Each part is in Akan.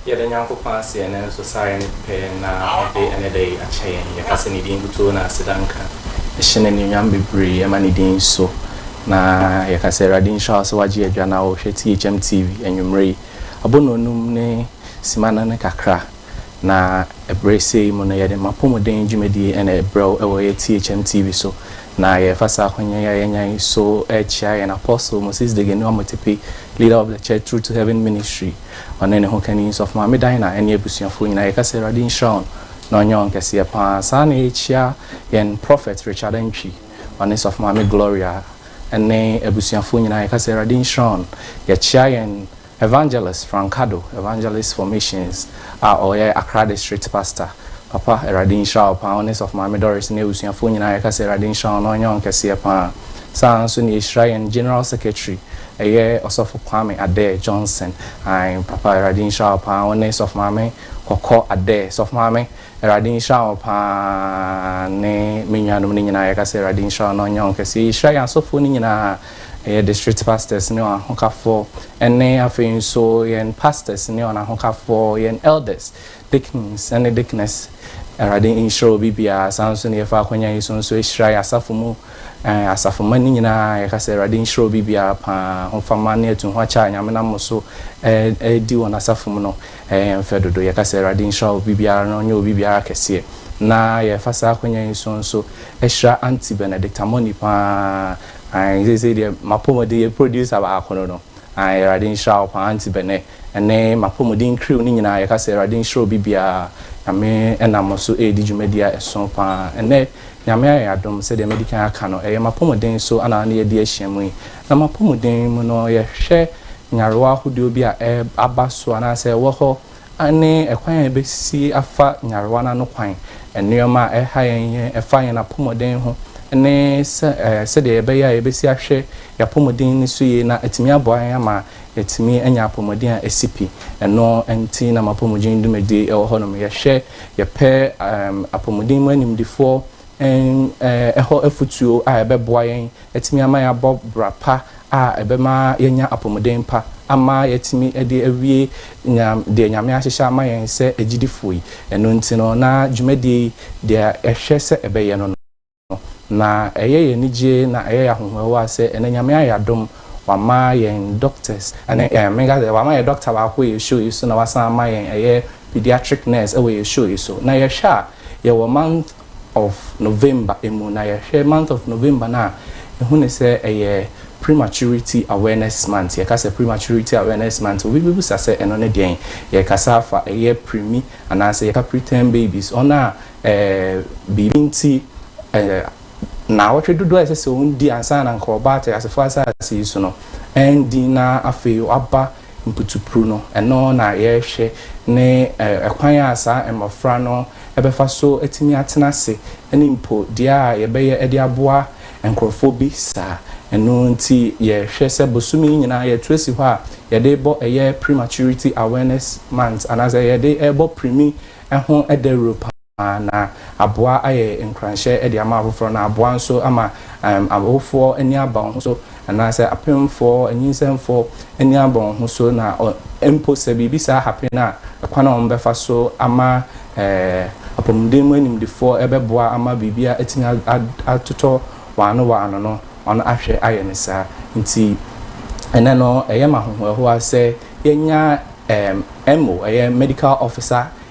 Yɛda Nyankopɔn ase ɛnnɛ nso sɛ ayɛ ne pɛ na ɔde ɛnnɛ da yi akyɛ yɛn. Yɛfa sɛ ne din nkutoo na aseda nka. Yɛhyɛ no anuonyam bebree, yɛma ne din so, na yɛka sɛ Awurade nhyira wo sɛ woagye adwa na worehwɛ THM TV anwummere yi. Abɔnnɔnum ne simma no ne kakra. Na ɛberɛ sei mu no yɛde m'apɔmuden dwumadie na ɛbrɛ wo wɔ yɛ THM TV so. Na yɛrefa saa ahonya yi a yɛanya yi so rekyea yɛn Apostle Moses Degani Omotepe, Leader of the Church Through to Heaven Ministry, ɔne ne hokani Sɔfo Maame Dinah ɛne abusuafoɔ nyinaa. Yɛka sɛ Awurade nhyira wɔn na ɔnyɛ wɔn kɛseɛ pa ara. Saa ara na yɛrekyea yɛn Prophet Richard Antwi, ɔne Sɔfo Maame Gloria ɛne abusuafoɔ nyinaa. Yɛka sɛ Awurade nhyira wɔn. Yɛkyea yɛn Evangelist Francado, Evangelist for Missions a ɔyɛ Accra District Pastor, Papa Awurade nhyira wo paa, wo ne Sɔfo Maame Doris ne abusuafoɔ nyinaa yɛka sɛ Awurade nhyira wɔn na ɔnyɛ wɔn kɛseɛ paa. Saa ara nso na yɛhyira yɛn General Secretary ɛyɛ Ɔsɔfo Kwame Adair Johnson, ae Papa Awurade nhyira wo paa, wo ne Sɔfo Maame Kɔkɔ Adair, Sɔfo Maame Awurade nhyira wo paa ne me nuanom no nyinaa yɛka sɛ Awurade nhyira wɔn na ɔnyɛ wɔn kɛseɛ. Yɛhyira yɛn asɔfoɔ no nyinaa. Ɛyɛ district pastors ne wɔn ahokafoɔ, ɛne afei nso yɛn pastors ne wɔn ahokafoɔ, yɛn elders, deacons ne deaconess. Awurade nhyira obi biara. Saa nso na yɛfa akwanya yi so nso ahyira yɛn asafo mu eh, asafo mma no nyinaa. Yɛka sɛ Awurade nhyira obi biara paa. Hofama ne atu ho akyɛ a Nyame nam mo so eh, di wɔn asafo mu no ɛyɛ yɛn fɛ dodo. Yɛka sɛ Awurade nhyira obi biara na ɔnyɛ obi biara kɛseɛ. Na yɛfa saa akwanya yi so nso ahyira Auntie Benedicta Moni paa. Aane seesei deɛ mapɔmuden yɛ producer baako no no aane awurade nhyira wo paa aunty bɛnɛ ɛne mapɔmuden crew no nyinaa yɛka sɛ awurade nhyira obi biara nyame ɛnam mo so ɛɛdi dwumadie a ɛso paa ɛnɛ nyame ayɛ adom sɛdeɛ madi kan aka no ɛyɛ mapɔmuden so ana na yɛadi ahyia mu yi na mapɔmuden mu no yɛhwɛ nyarewa ahodoɔ bi a ɛɛba so anaasɛ ɛwɔ hɔ Aane, ɛkwan a yɛbɛsi afa nyarewa no ano kwan, nneɛma a ɛha yɛn, yɛn, ɛfa yɛn apɔmuden ho, ne sɛ, ɛɛ, sɛdeɛ yɛbɛyɛ a yɛbɛsi ahwɛ yɛn apɔmuden ani so yie na atumi aboa yɛn ama yɛatumi anya apɔmuden a ɛsi pi. Ɛno nti na m'apɔmuden dwumadie ɛwɔ hɔ nom. Yɛhwɛ, yɛpɛ, ɛɛm, apɔmuden mu animdefoɔ, ɛɛm, ɛɛ, hɔ afutuo a ɛbɛboa yɛn. atumi ama yɛabɔ bra pa a ɛbɛma yɛanya apɔmuden pa ama yɛatumi de awie deɛ Nyame ahyehyɛ ama yɛn sɛ agyidifoɔ yi. Ɛno nti no, na dwumadie yi, deɛ yɛhwɛ sɛ ɛbɛyɛ no no, na ɛyɛ yɛn anigyeɛ na ɛyɛ yɛn ahohoahoa sɛ ɛnnɛ Nyame ayɛ adom, wama yɛn doctors, ɛne menka sɛ wama yɛn doctor baako wɔ yɛn show yi so na wasan ama yɛn ɛyɛ pediatric nurse wɔ yɛn show yi so. Na yɛhwɛ a, yɛwɔ month. of November mu na yɛhwɛ month of November no a yɛhu no sɛ ɛyɛ prematurity awareness month. Yɛka sɛ prematurity awareness month obi bɛbisa sɛ ɛno ne deɛn? Yɛkasa afa ɛyɛ premi anaasɛ yɛka preterm babies wɔn a eh, biribi nti eh, naawɔtwe dodoɔ a ɛsɛ sɛ wɔn di ansa na nka wɔba ateasefoɔ asase yi so no ɛndi na afei wɔaba Mputupuru no, ɛno na yɛrehwɛ ne ɛkwan a saa mmɔfra no bɛfa so atumi atena ase ne mpo deɛ a yɛbɛyɛ de aboa nkorɔfoɔ bi saa. Ɛno nti yɛhwɛ sɛ bosome yi nyinaa yɛto asi hɔ a yɛde rebɔ ɛyɛ Prematurity Awareness Month anaasɛ yɛde rebɔ pirimi ho dawuro paa. na aboa ayɛ nkuranhyɛ de ama afoforɔ, na aboa nso ama awofoɔ ani aba wɔn ho so, anaasɛ apemfoɔ, anyinsɛnfoɔ ani aba wɔn ho so, na mpo sɛ biribi saa hapen a, ɛkwan a wɔbɛfa so ama apɔmuden mu animdefoɔ rebɛboa ama biribi atumi atotɔ wɔn ano wɔ ano no, wɔahwɛ ayɛ no saa. Nti, ɛnnɛ no, ɛyɛ me ahohoahoa sɛ yɛanya MO, ɛyɛ Medical Officer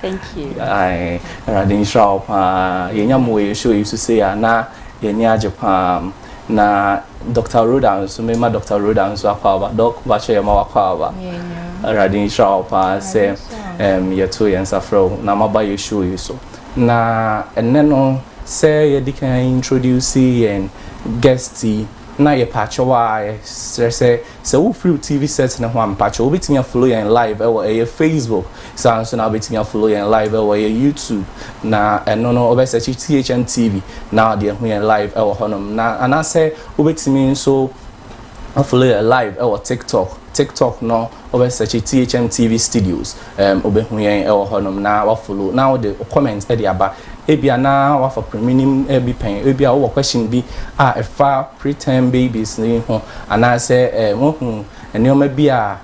Thank you. Ae Awurade nhyira wo paa. Yɛnya mo wɔ yɛn show yi so sei a na yɛn ani agye paa. Na Doctor Rhoda nso mema Doctor Rhoda nso akɔ aba. Doc bakyɛ yɛma wakɔ aba. Awurade nhyira wo paa sɛ um, yɛto yɛn nsa frɛ wo na maba yɛn show yi so. Na ɛnɛ no sɛ yɛdi kan introduce yɛn guest yi na yɛpɛ akyɛw a yɛsrɛ sɛ Sɛ wo fri wo TV set no ho a mpakyɛw wo bɛtumi a follow yɛn live ɛwɔ ɛyɛ Facebook saa nso na wo bɛtumi a follow yɛn live ɛwɔ ɛyɛ YouTube na ɛno no wo bɛ search THM TV na wo de ahu yɛn live ɛwɔ hɔ nom na anaasɛ wo bɛtumi nso a follow yɛn live ɛwɔ TikTok TikTok no wo bɛ search THM TV Studios. Ɛɛm obehu yɛn wɔ hɔ nom na wa follow na wo de wo comment de aba ebia na wa fa pre minim bi pɛn ebia wo wɔ question bi a ɛfa pre term babies no ho anaa sɛ ɛɛm wa hu nnoɔma bi a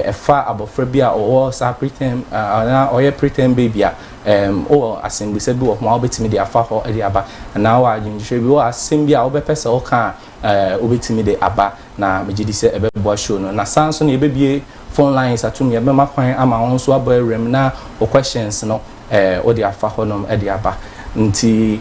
ɛfa abɔfra bi a ɔwɔ saa pre term anaa ɔyɛ pre term baby a ɛɛm wo wɔ asɛmbusa bi wɔ ho a wo bɛtumi de afa hɔ de aba anaa wo wɔ adwenkyerɛ bi wo wɔ asɛm bi a wo bɛ pɛ sɛ wo ka a wobɛtumi de aba na megye di sɛ ɛbɛboa show no. Na saa nso na yɛbɛbue phone lines atom, yɛbɛma kwan ama wo nso abɔ awuram na wo questions no wode afa hɔnom de aba. Nti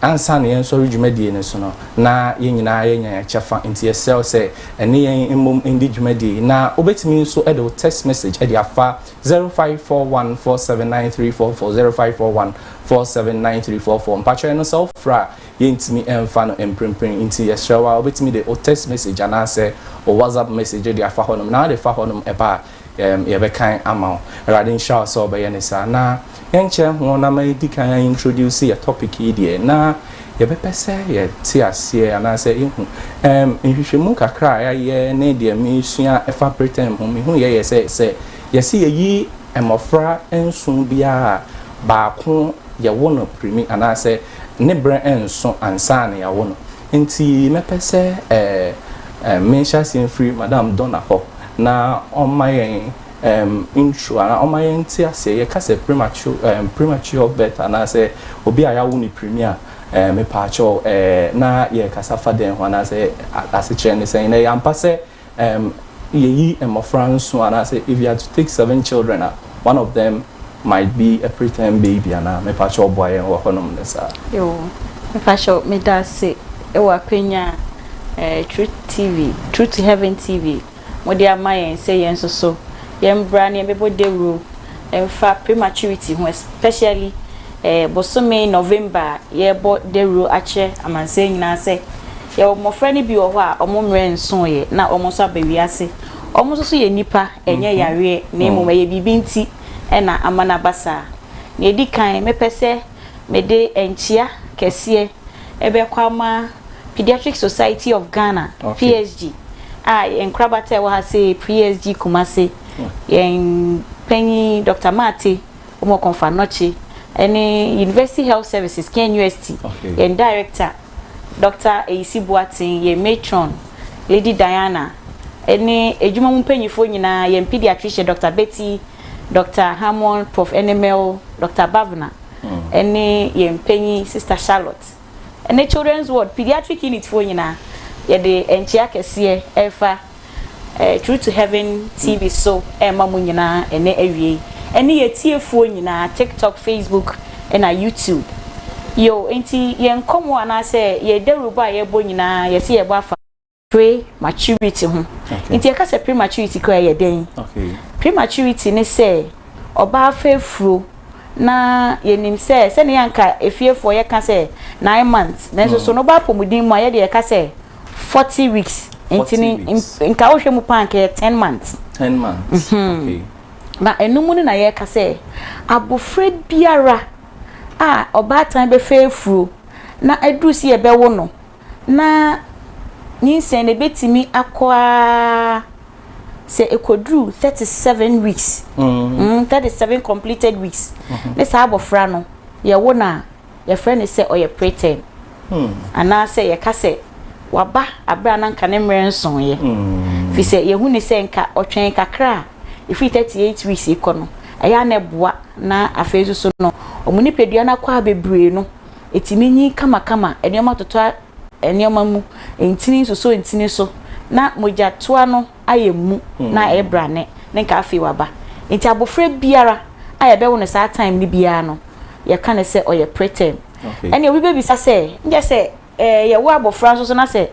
ansa na yɛnsɔre dwumadie no so no, na yɛn nyinaa yɛnya yɛn kyɛfa. Nti yɛsrɛ wo sɛ ɛne yɛn mmom ndi dwumadie yi. Na wobɛtumi nso de wo text message de afa 0541479344, 0541479344. Mpakyɛw ɛno sɛ wofrɛ a, yɛntumi mfa no mprempren nti yɛsrɛ wo a wobɛtumi de wo text message anaasɛ wo WhatsApp message de afa hɔnom na wode fa hɔnom ɛba a yɛbɛkan ama wo. Awurade nhyira wo sɛ wobɛyɛ no saa. Na yɛnkyɛ ho na ma yɛdi kan a introduce yɛ topic yi deɛ na yɛbɛpɛ sɛ yɛte aseɛ anaasɛ yɛhu. Um, nhwehwɛmu kakra a yɛayɛ ne deɛ mesua ɛfa preterm ho mehu yɛ yɛ sɛ sɛ yɛse yɛyi mmɔfra nson biara baako yɛwo no pirimi anaasɛ ne berɛ nnso ansa na yɛawo no. Nti mɛpɛ sɛ ɛɛ menhyɛ aseɛ mfiri Madam Donna hɔ na ɔmma yɛn ɛɛm intro anaa ɔmma yɛn nte aseɛ. Yɛka sɛ premature ɛɛm premature birth anaasɛ obi a yɛawo no pirimi a ɛɛ mepaakyɛw ɛɛ na yɛrekasa fa dɛn ho anaasɛ asekyerɛ ne sɛn? Na ɛyɛ ampa sɛ Erm yɛyi mmɔfra nson anaasɛ if you are to take seven children a one of them might be a preterm baby anaa? Mepakyɛw boa yɛn wɔ hɔnom ne saa. Yoo, mepakyɛw medase wɔ akwanya a eh Truth TV, Truth to Heaven TV mode ama yɛn sɛ yɛn nso so yɛmbra na yɛmbɛbɔ dawuro mfa prematurity ho especially eh bosome November a yɛrebɔ dawuro akyerɛ amansan nyinaa sɛ Yɛwɔ mmɔfra no bi wɔ hɔ a wɔn mmerɛ nsooɛ na wɔn nso aba wiase. Wɔn nso so yɛ nnipa, ɛnyɛ mhm. yareɛ na mmom mm. ɛyɛ biribi nti na ama no aba saa. Nea ɛdi kan, mɛpɛ sɛ mede nkyia kɛseɛ ɛbɛkɔ ama Pediatric Society of Ghana, okay. PSG, a yɛn nkorabata ɛwɔ ha sɛ PSG Kumase, mm. yɛn panyin Dr. Mate, wɔn kɔnfa nɔkye, ɛne University Health Services, Ken UST, okay. yɛn director, Dɔkta Ayisi Boateng, yɛn matron, Lady Diana, ne adwuma mu mpanimfoɔ nyinaa, yɛn pediatrician, Dɔkta Betty, Dɔkta Hammond, Prof. Enemel, Dɔkta Bavna, ne yɛn panyin, Sista Charlotte, ne Children's Ward, Pediatric Unit foɔ nyinaa, yɛde nkyea kɛseɛ refa True to Heaven TV so rema mo nyinaa ɛnɛ awiei, ɛne yɛn atiefoɔ nyinaa, TikTok, Facebook, ɛna YouTube. Yo, enti yɛn nkɔmmɔ anaasɛ yɛn dawurubɔ a yɛbɔ nyinaa, yɛse yɛbɔ afa prematurity ho. Enti yɛka sɛ prematurity koraa yɛ dɛn? Prematurity ne sɛ ɔbaa fa afuro na yɛnim sɛ sɛnea anka efiefoɔ yɛka sɛ nine months, nanso so no ba apɔmuden mu a yɛde yɛka sɛ Forty weeks nti ne nka wohwɛ mu paa nka yɛ ten months. Ten months okay. Na ɛno mu no na yɛka sɛ abofra biara a ɔbaatan bɛfɛ afuro na aduru sɛ yɛbɛwo no na nyinsɛn no ɛbɛtumi akɔ ara sɛ ɛkɔduru thirty seven weeks thirty seven completed weeks ne saa abofra no yɛwo no a. yɛfrɛ no sɛ ɔyɛ preterm, anaasɛ yɛka sɛ waba bere a na anka ne mmerɛ nsoeɛ, firi sɛ yɛhu ne sɛ nka ɔtwɛn kakra a, ɛfiri 38 weeks rekɔ no, ɛyɛ a na ɛboa, na afei nso so no, wɔn nipadua no akwaa bebree no, ɛtumi nyin kamakama, nneɛma totɔ nneɛma mu, ntini nsosɔ ntini so, na mogyatoa no. ayɛ mu na ɛyɛ brane ne nka afei waba nti abɔfra biara a yɛbɛwo no saa time no biara no yɛka no sɛ ɔyɛ preterm ɛne obi bɛbisa sɛ nkyɛ sɛ eh, yɛwo abɔfra nso so na sɛ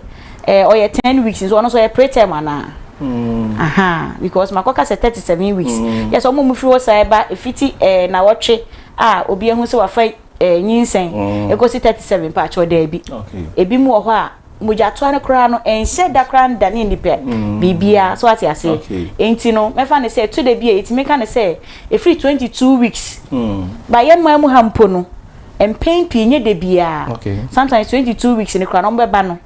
eh, ɔyɛ ten weeks nso ɔno nso ɔyɛ preterm anaa mm. aha because makɔka sɛ thirty seven weeks mm. yɛ sɛ ɔmo mu firi hɔ saa ɛba efiti eh, na wɔtwe a obi ehu sɛ wafa eh, nyinsɛn mm. ɛkɔsi 37 paakyɛw daabi ebi mu wɔ hɔ a mogyatoa no koraa no ɛnhyɛ da koraa nda ne nnipa mm. biribiara so ate ase enti no mɛfa ne sɛ to da bi a ɛtumi ka ne sɛ ɛfiri 22 weeks mm. ba yɛ mmaa mu ha mpo no mpɛn pii nyɛ da biara sometimes 22 weeks no koraa no ɔmobɛba no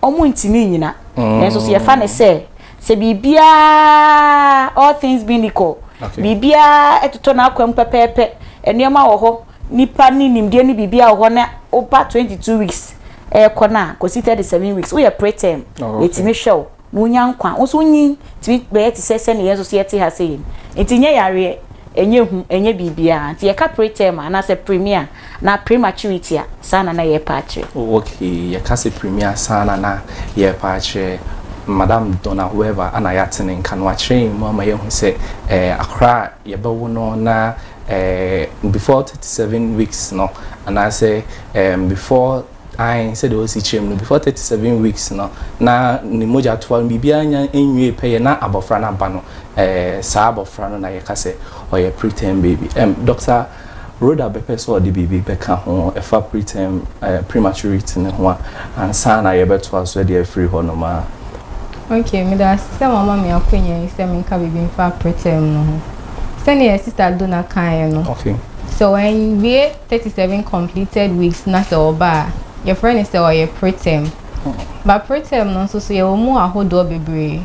wɔntumi nnyina. Nanso so yɛfa no sɛ, sɛ biribiara, all things being equal, biribiara totɔ n'akwam pɛpɛɛpɛ, nneɛma wɔ hɔ, nnipa ne nimdeɛ ne biribiara wɔ hɔ na woba twenty two weeks rekɔ no a, kɔsi thirty seven weeks, woyɛ preterm, yɛtumi hwɛ wo. na wonya nkwa. Wo nso wonyin tumi bɛyɛ te sɛ sɛnea yɛn nso so yɛte ha sei no. Nti nyɛ yareɛ, ɛnyɛ ehu, ɛnyɛ biribiara. Nti yɛka preterm a, anaasɛ premiere a, anaa prematurity a, saa na na yɛrepɛ akyerɛ. Oh, okay. Yɛka sɛ premiere a, saa na na yɛrepɛ akyerɛ. Madam Donna Weaver na yɛate ne nka no. Wakyerɛ yɛn mu ama yɛahu sɛ eh, akwadaa a yɛbɛwo no na eh, before thirty seven weeks no, anaasɛ eh, before Ae, sɛdeɛ ɔsi kyerɛ mu no, before thirty seven weeks no, na ne mogyatoa no biribiara nnya nwiee pɛyɛ na abɔfra no aba no, eh, saa abɔfra no na yɛka sɛ ɔyɛ preterm baby. Ɛm, Dɔkta Rhoda bɛpɛ sɛ ɔde biribi bɛka ho ɛfa preterm, eh, prematurity no ho a, ansa na yɛbɛtoa so de afiri hɔnom a. Okay, meda ase sɛ moama me akwanya yi sɛ menka biribi mfa preterm no ho. Sɛdeɛ Sister Donna kaeɛ no, Okay. sɛ wanwie, thirty seven completed weeks na sɛ ɔba a, yɛfrɛ no sɛ ɔyɛ preterm. Ba preterm no nso so yɛwɔ mu ahodoɔ bebree.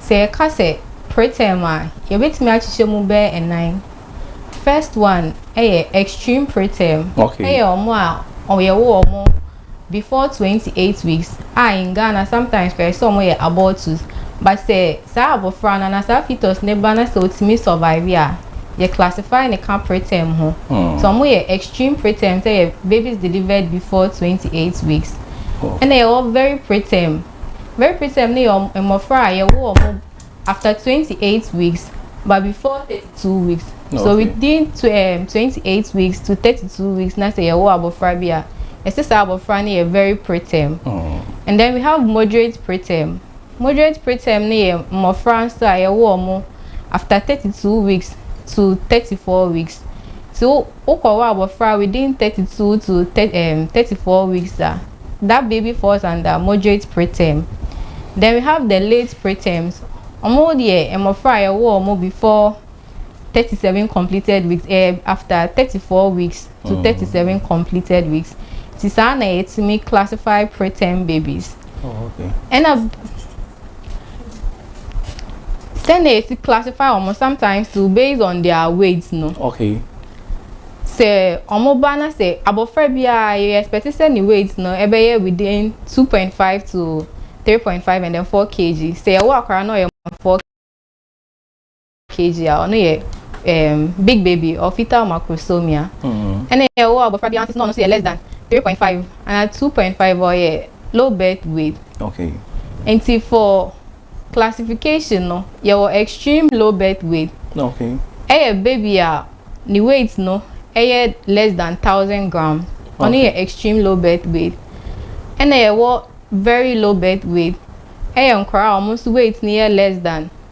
Sɛ yɛka sɛ preterm a, yɛbɛtumi akyekyɛ mu bɛyɛ nnan. First one yɛ extreme preterm. Okay. Ɛyɛ wɔn a yɛwo wɔn before twenty eight weeks a in Ghana sometimes koraa yɛse ɔmo yɛ abortus but sɛ saa abɔfra no anaa saa fetus no ba na sɛ otumi survive a yɛ classify no ka preterm ho sɛ ɔmo yɛ extreme preterm sɛ yɛ babies delivered before twenty eight weeks ɛna yɛwɔ very preterm very preterm no yɛ mmɔfra a yɛwo ɔmo. After twenty eight weeks but before thirty two weeks so within twenty eight weeks to thirty two weeks na sɛ yɛwɔ abɔfra bi a ɛsɛ saa abɔfra no yɛ very preterm hmm. and then we have moderate preterm moderate preterm no yɛ mmɔfra nso a yɛwɔ ɔmo after thirty two weeks to thirty four weeks so wokɔwɔ abɔfra within thirty two to thirty four weeks a. That baby falls under moderate preterm. Then we have the late preterms, ɔmo deɛ mmɔfra a yɛwoo ɔmo before thirty seven completed weeks, ɛyɛ after thirty four weeks to thirty seven completed weeks. Nti saa na yɛtumi classify preterm babies. Oh, okay. Ɛna. Sɛ na yɛsi classify wɔn sometimes too based on their weight no. Okay. Sɛ wɔn ba na sɛ abɔfra biara yɛ expect sɛ ne weight no ɛbɛyɛ within two point five to three point five and then four kg sɛ yɛwɔ akwadaa na ɔyɛ more than four kg. kg a ɔno yɛ um, big baby or fetal macrosomia ɛna mm-hmm. ɛwɔ abɔfra biara nso na ɔno nso yɛ less than three point five ana two point five ɔyɛ low birth weight okay. nti for classification no yɛwɔ extreme low birth weight okay. ɛyɛ baby a ne weight no ɛyɛ less than thousand gram ɔno okay. yɛ extreme low birth weight ɛna yɛwɔ very low birth weight ɛyɛ nkwaraa a wɔn nso weight no yɛ less than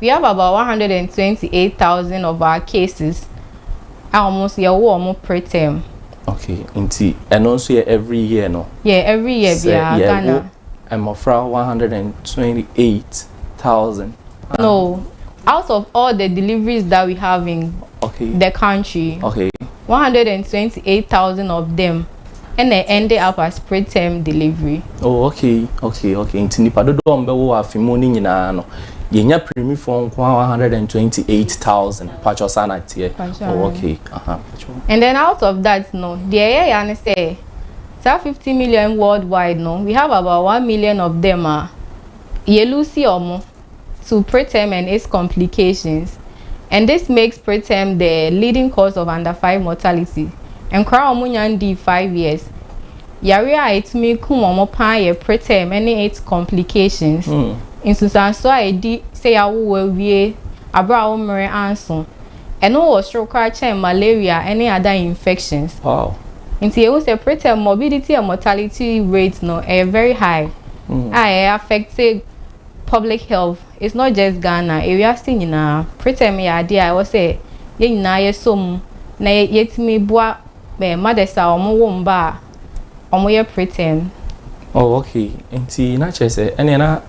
We have about one hundred and twenty eight thousand of our cases a wɔn nso yɛwɔ wɔn preterm. okay nti ɛno nso yɛ every year no. yɛ every year biara ghana. sɛ yɛwɔ mmɔfra one hundred and twenty eight thousand. no out of all the deliveries that we have in okay. the country. okay. one hundred and twenty eight thousand of them. Ɛna ɛnde up as preterm delivery. Oh okay okay okay nti nipa dodoɔ a wɔbɛwo wɔ afe mu no nyinaa no yɛnya pirimifoɔ nko ara one hundred and twenty eight thousand patwɔ saa na teɛ oh okay aha patwɔ. And then out of that no deɛ ɛyɛ ya ne sɛ saa fifty million worldwide no we have about one million of them a yɛ loose wɔn. to preterm and its complications and this makes preterm the leading cause of under five mortality. Nkwadaa a wɔnya ndii five years, yareɛ a ɛtumi kum wɔn paa yɛ preterm ne its complications. Mm. Nsunsuansoɔ a ɛdi sɛ yɛawowo awie aberɛ a wo mmerɛ anso. Ɛno wɔ soro koraa kyɛn malaria ne other infections. Wow. Nti yɛhu sɛ preterm morbidity and mortality rate no ɛyɛ very high mm. a ɛyɛ affected Public health is not just Ghana, ewiase nyinaa. Preterm yɛ adeɛ a ɛwɔ sɛ yɛn nyinaa yɛsɔ mu na yɛtumi boa mothers a wɔn wo mma a wɔn yɛ preterm. Oh okay, nti na kyerɛ sɛ ɛneɛ na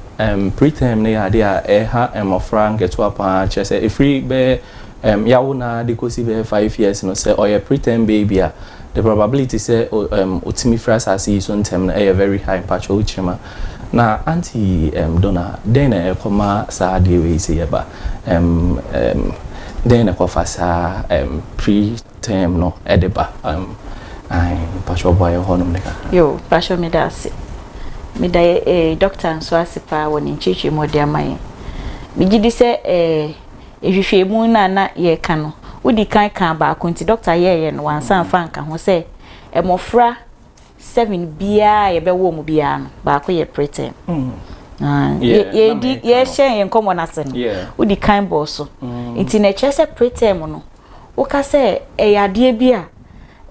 preterm no yɛ adeɛ a ɛha mmɔfra nketewa paa, kyerɛ sɛ ɛfiri bɛyɛ yawo no ara de kɔsi bɛyɛ five years no sɛ ɔyɛ preterm baby a the probability sɛ ɔtumi firi asaase yi so ntɛm no ɛyɛ very high, mpakyɛw kyerɛ mu a. Na Aunty um Donna, dɛn na ɛkɔ ma saa adeɛ wei sɛ yɛba? Um, um, dɛn na ɛkɔ fa saa um, pre-term no ɛde ba? Um, ae, mpatsɔ bɔ ayɛ hɔnom ne kakra. Yo, mpatsɔ meda ase. Meda yɛ eh, doctor nso ase paa wɔ ne nkyerɛkyerɛ mu ɔde ama yɛn. Megye di sɛ eh, ehwehwɛmu no a na yɛka no, wodi kan kaa baako nti doctor yɛɛyɛ no wansa amfa anka ho sɛ mmɔfra seven biara a yɛbɛwɔ mu biara no baako yɛ preterm yɛdi yɛhyɛ yɛn nkɔmmɔ no ase no wodi kan bɔɔ so nti na ɛkyerɛ sɛ preterm no woka sɛ ɛyɛ adeɛ bi a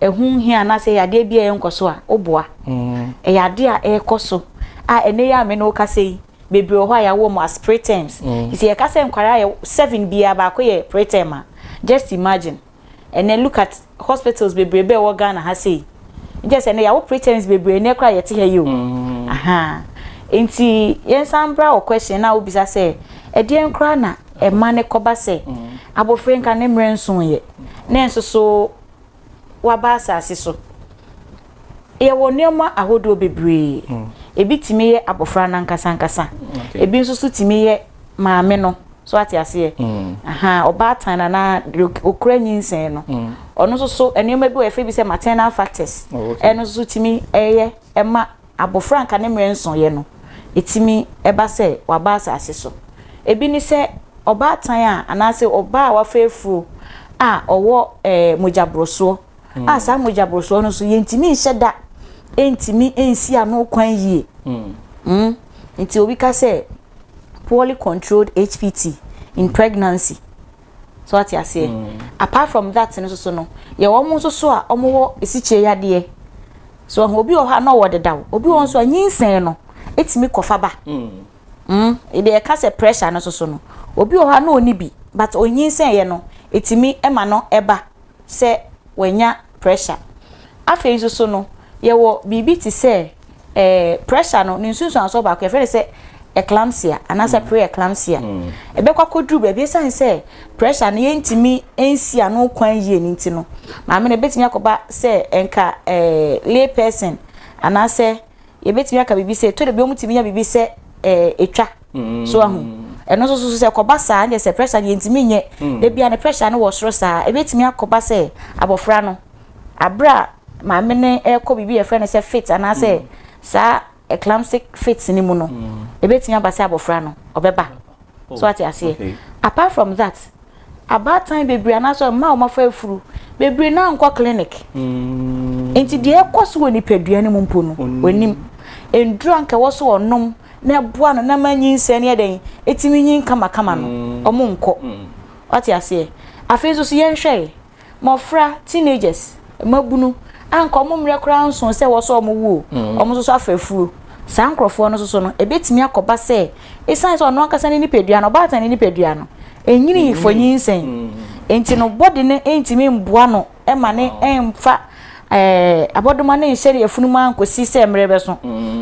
ɛho hia anaasɛ ɛyɛ adeɛ bi a ɛnkɔ so a woboa ɛyɛ adeɛ a ɛrekɔ so a ɛnɛ yɛ a me ne woka sɛ yi bebree wɔ hɔ a yɛawɔ mu as preterms nti yɛka sɛ nkwadaa yɛ seven biara baako yɛ preterm a just imagine ɛnɛ look at hospitals bebree bɛɛ wɔ Ghana ha sei nkyɛ sɛ ɛnɛ yɛawo pretense bebree ɛnɛ koraa yɛte ha yi o mm. aha nti yɛnsan bra wɔ question na wobisa sɛ ɛdeɛn koraa na ɛma ne kɔba sɛ mm. abɔfra nka ne mmerɛ nsoeɛ na nso so waba asase so Yɛwɔ nneɛma ahodoɔ bebree. Mm. Ebi tumi yɛ abɔfra no ankasa ankasa. Mm, okay. Ebi nso so tumi yɛ maame no. So ate aseɛ. Mm. Aha, ɔbaatan anaa okura nyinsɛn no. Mm. Ɔno nso so nneɛma bi wɔ yɛfrɛ bi sɛ maternal factors. Oh, okay. Ɛno nso so tumi ɛyɛ ɛma abɔfra nka ne mmerɛ nsɔyɛ no. Etumi ɛba sɛ waba asase so. Ebi ne sɛ ɔbaatan a anaasɛ ɔbaa a wafɛ afuro a ɔwɔ ɛɛ eh, mogyaborosoɔ. hmm. a saa mogya borosoɔ no so yɛntumi nhyɛ da ntumi nsi ano kwan yie hmm. hmm. nti obi ka sɛ poorly controlled hpt in pregnancy so ate aseɛ apart from that no soso no yɛ wɔn nso so a wɔn wɔ esikyire yadeɛ so ɔho obi wɔ hɔ a na ɔwɔ dedaw obi wɔ nso a nyinsɛn no etumi kɔfa ba ebi ɛka sɛ pressure no soso no obi wɔ hɔ a na ɔni bi but onyinsɛn yɛ no etumi ɛma no ɛba. sɛ wanya pressure. Afei nso so no, yɛwɔ biribi te sɛ eh, pressure no, ne nsunsuansoɔ baako yɛfrɛ no sɛ eclampsia anaasɛ mm. pre-eclampsia. Mm. Ɛbɛkɔ akɔduru baabi ɛsiane sɛ pressure no yɛntumi nsi ano kwan yie no nti no, maame no ɛbɛtumi akɔba sɛ ɛnka eh, lay person anaasɛ yɛbɛtumi aka biribi sɛ ɛtɔ da bi wɔtumi nya biribi sɛ ɛtwa mm. so ahu ɛno nso so sɛ kɔba saa ne sɛ pressure no yɛntumi nyɛ mm. da bia ne pressure no wɔ soro saa ɛbɛtumi akɔba sɛ abɔfra no aberɛ a maame ne ɛrekɔ biribi yɛfrɛ no sɛ fit anaasɛ mm. saa eclamptic fit no mu no ɛbɛtumi aba sɛ abɔfra no ɔbɛba oh, so ate aseɛ apart from that Abaatan bebree anaasɛ mmaa a wɔafa afuru bebree no ara nkɔ clinic. Nti deɛ ɛkɔ so wɔ nipadua no mu mpo no, wɔnim. Nnuro a nka ɛwɔ so wɔnom na ɛboa no na ma nyinsɛn no yɛ dɛn, ɛtumi nyin kamakama no, wɔnkɔ. Wate aseɛ? Afei nso so yɛnhwɛe. Mmofra, teenagers, mmabunu, a anka wɔn mmerɛ koraa nsoo sɛ wɔsɔ wɔn wu o, wɔn nso so afa afuo. Saa nkorɔfoɔ no nso so no, ɛbɛtumi akɔba sɛ ɛsiane sɛ ɔno ankasa ne nipadua no, ɔbaatan ne nipadua no, ɛnyini fɔ nyinsɛn nti no, body no ntumi mboa no ma ne mfa abɔdoma no nhyɛ ne yafunu mu ankɔsi sɛ mmerɛ bɛso.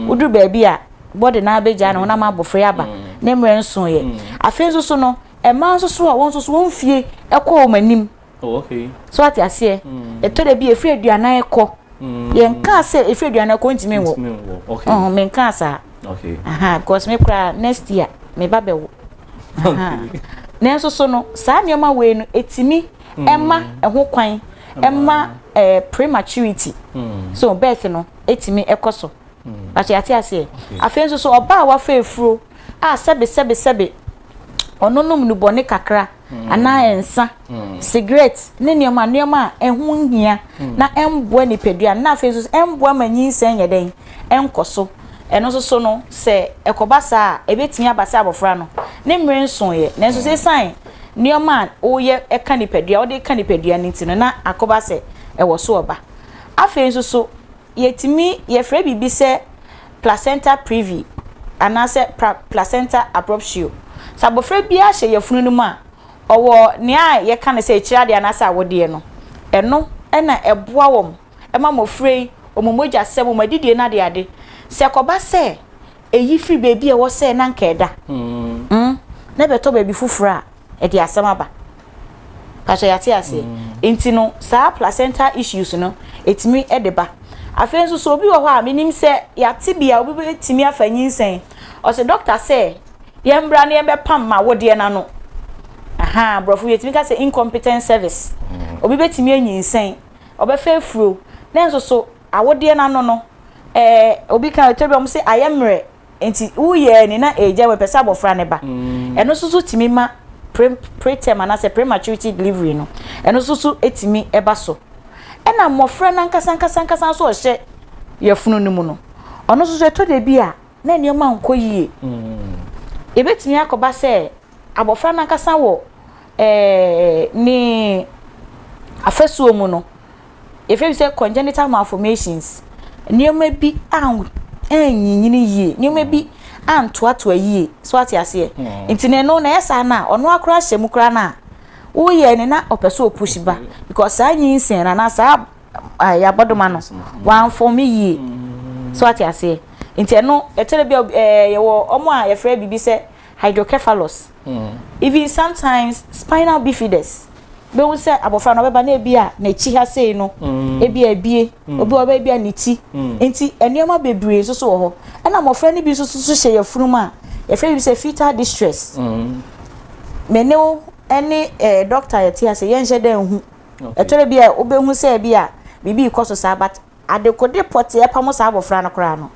Woduru baabi a, body no ara bɛgyae, ne honam abɔfra yi aba, ne mmerɛ nsoeɛ. Afei nso so no, Mmaa nso so a, wɔn nso so wɔn fie kɔ wɔn anim. Oh, okay. So ate aseɛ. Mm. Ɛtɔ da bi efiri aduanan kɔ. Mm. Yɛn kaa sɛ efiri aduanan kɔ ntumi nwɔ. Ntumi nwɔ. Okay. Ɔhɔn mɛ nkaa saa. Okay. Aha, because me kura next year me ba bɛ wo. Aha. Nanso so no saa nneɛma wei no etimi mm. ɛma ɛho kwan ɛma ɛɛ eh, prematurity. Mm. So birth no etimi ɛkɔ so. But yɛ ate aseɛ. Afei nso so ɔbaa wafa efuro a sɛbi sɛbi sɛbi. ɔnonom nnubɔne kakra anaa nsa, sigaret ne nneɛma nneɛma a ɛho nhia na ɛmboa nipadua no na afei nso ɛmboa ma nyinsɛn nyɛ dɛn ɛnkɔ so. Ɛno nso so no sɛ ɛkɔba saa a ɛbɛtumi aba sɛ abɔfra no ne mmere nsoeɛ nanso sɛ ɛsiane nneɛma a woyɛ ɛka nipadua wode ka nipadua no nti no na akɔba sɛ ɛwɔ so ɔba. Afei nso so Yɛtumi yɛfrɛ biribi sɛ placenta previi anaasɛ placenta abruptio. Sɛ abɔfra biara hyɛ yafunu no mu a, ɔwɔ nea yɛka no sɛ akyiri adeɛ anaasɛ awodeɛ no. Ɛno na ɛboa wɔn ma mmɔfra yi, wɔn mogyasɛm, wɔn adidie no adeade. Sɛ ɛkɔba sɛ ɛyi firi baabi a ɛwɔ sɛ na anka ɛda na ɛbɛtɔ baabi foforɔ a, ɛde asɛm aba pasɛ yɛate aseɛ mm. nti no saa placenta issues no ɛtumi de ba afei nso so obi wɔ hɔ a menim sɛ yɛate bi a obi bɛtumi afa nyinsɛn ɔsɛ dɔkta sɛ yɛn mbra no yɛbɛpam ma wodeɛ no ano aha borɔfo yɛtumi ka sɛ incompetent service mm. obi bɛtumi anyinsɛn ɔbɛfa afuro na nso so awodeɛ no ano no ɛɛ obi ka ɛtɔ bi ɔmo sɛ ayɛ mmerɛ Nti woyɛɛ ni na ɛregya wo, ɛpɛ sɛ abɔfra no ba. Ɛno nso so tumi ma preterm anaasɛ prematurity delivery no, ɛno nso so tumi ba so. Ɛna mmɔfra no ankasa ankasa ankasa nso a ɔhyɛ yafunu no mu no, ɔno nso so ɛtɔ da bi a na nneɛma nkɔ yie. Ɛbɛtumi akɔba sɛ Abɔfra no ankasa wɔ ne afasuo mu no, yɛfrɛ bi sɛ congenital malformations. Nneɛma bi anyinyini yie, nneɛma bi antoatoa yie, so ate aseɛ. Hmm. Nti na ɛno na ɛyɛ saa no a, ɔno akora ahyɛ mu koraa no a, woyɛ ne na ɔpɛ sɛ ɔpush ba because saa nyinsɛn no anaa saa yɛabɔdoma no wɔamfɔme yie, hmm. so ate aseɛ. Nti ɛno ɛkyerɛ bi a yɛwɔ ɔmo a yɛfrɛ biribi sɛ hydrocephalus, even sometimes spinal bifidus, bɛhu sɛ abɔfra no ɔbɛba na ebi a n'akyi ha sei no ebi a ebie, obi wɔ baabi a ne ti. Nti nneɛma bebree nso so wɔ hɔ. Ɛna mmɔfra no bi nso so hyɛ yafunu mu a yɛfrɛ bi sɛ fetal distress. Me ne wo ne eh, doctor yɛte ase yɛnhyɛ dɛ nhu. Ɛtɔrɔ bi a wobɛhu sɛ bi a biribi rekɔ so saa but Adekode pɔtee pamo saa abɔfra no koraa no,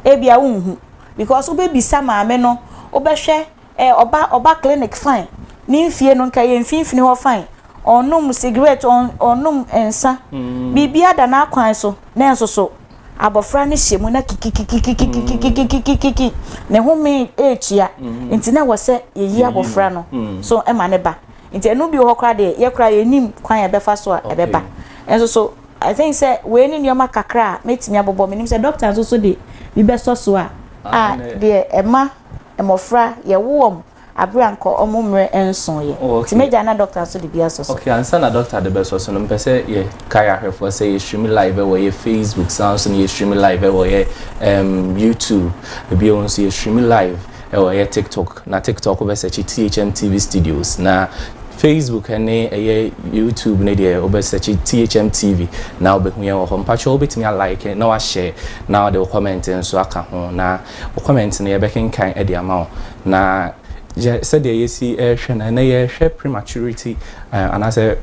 ebia wonhu because wobɛbisa maame no, wobɛhwɛ eh, ɔba, ɔba clinic fine, ne mfie no nka ɛyɛ mfimfini hɔ fine, ɔnnom cigarette, ɔn, ɔnnom nsa, biribiara da n'akwan so, nanso so abɔfra no hyɛ mu na kikikikikikikikikikikikikiki, ne home retua, nti na ɛwɔ sɛ yɛyi abɔfra no so ma ne ba. Nti ɛno bi wɔ hɔ koraa deɛ yɛ koraa yɛnnim kwan a ɛbɛfa so a ɛbɛba, nanso so I think sɛ wei ne nneɛma kakra a mɛtumi abobɔ, menim sɛ doctor nso so de bi bɛsɔ so a. A, deɛ ɛma mmɔfra yɛwo wɔn aberɛ a nka wɔn mmerɛ nnsoo yɛ, nti mɛgyae na doctor nso de bi asɔ so. Ok, ansa na doctor de bɛsɔ so no, mepɛ sɛ yɛ kae ahwɛfoɔ sɛ yɛ stream live wɔ yɛ Facebook, saa nso no yɛ stream live wɔ yɛ ɛɛm YouTube, bio nso yɛ stream live. Ɛwɔ ɛyɛ TikTok na TikTok wo bɛ sɛkye THM TV studios na Facebook ɛne ɛyɛ YouTube ne deɛ wo bɛ sɛkye THM TV na wo bɛ hu yɛn wɔ hɔ mpakyɛw wo bɛtumi a like na wa share na ɔde wo comment nso aka ho na wo comment no yɛ bɛ kenkan ɛde ama wo na yɛ sɛdeɛ yɛ si ɛhwɛ no ɛnɛ yɛ hwɛ prematurity anaasɛ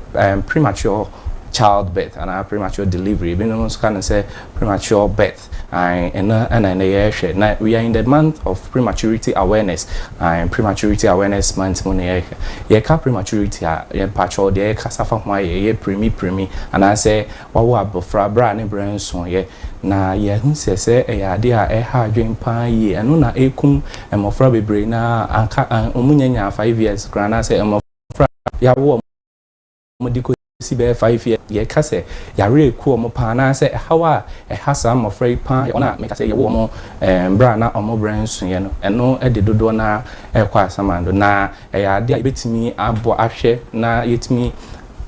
premature child birth anaa premature delivery ebi nom nso ka no sɛ premature birth. Ae, ɛno ara na nnɛ yɛrehwɛ. Na we are in the month of prematurity awareness. Ae, prematurity awareness month mu na yɛrehwɛ. Yɛka prematurity a, yɛ mpakyɛw, deɛ yɛkasa fa ho ara yɛ ɛyɛ pirimi pirimi, anaasɛ wawo abɔfra berɛ a ne berɛ nsoeɛ. Na yɛahu sɛ sɛ ɛyɛ adeɛ a ɛha adwene pa ara yie. Ɛno na ɛrekum mmɔfra bebree no ara a, anka wɔn nnya nyaa five years koraa, anaasɛ mmɔfra a yɛawo wɔn. wɔn de kɔsi bɛyɛ five years. Deɛ ɛka sɛ yareɛ ku wɔn paa anaasɛ ɛhaw a ɛha saa mmɔfra yi paa yɛ wɔn a mekasɛ yɛwoo wɔn berɛ a na wɔn berɛ nsoeɛ no. Ɛno de dodoɔ no ara rekɔ asamando. Na ɛyɛ adeɛ a yɛbɛtumi abɔ ahwɛ na yɛatumi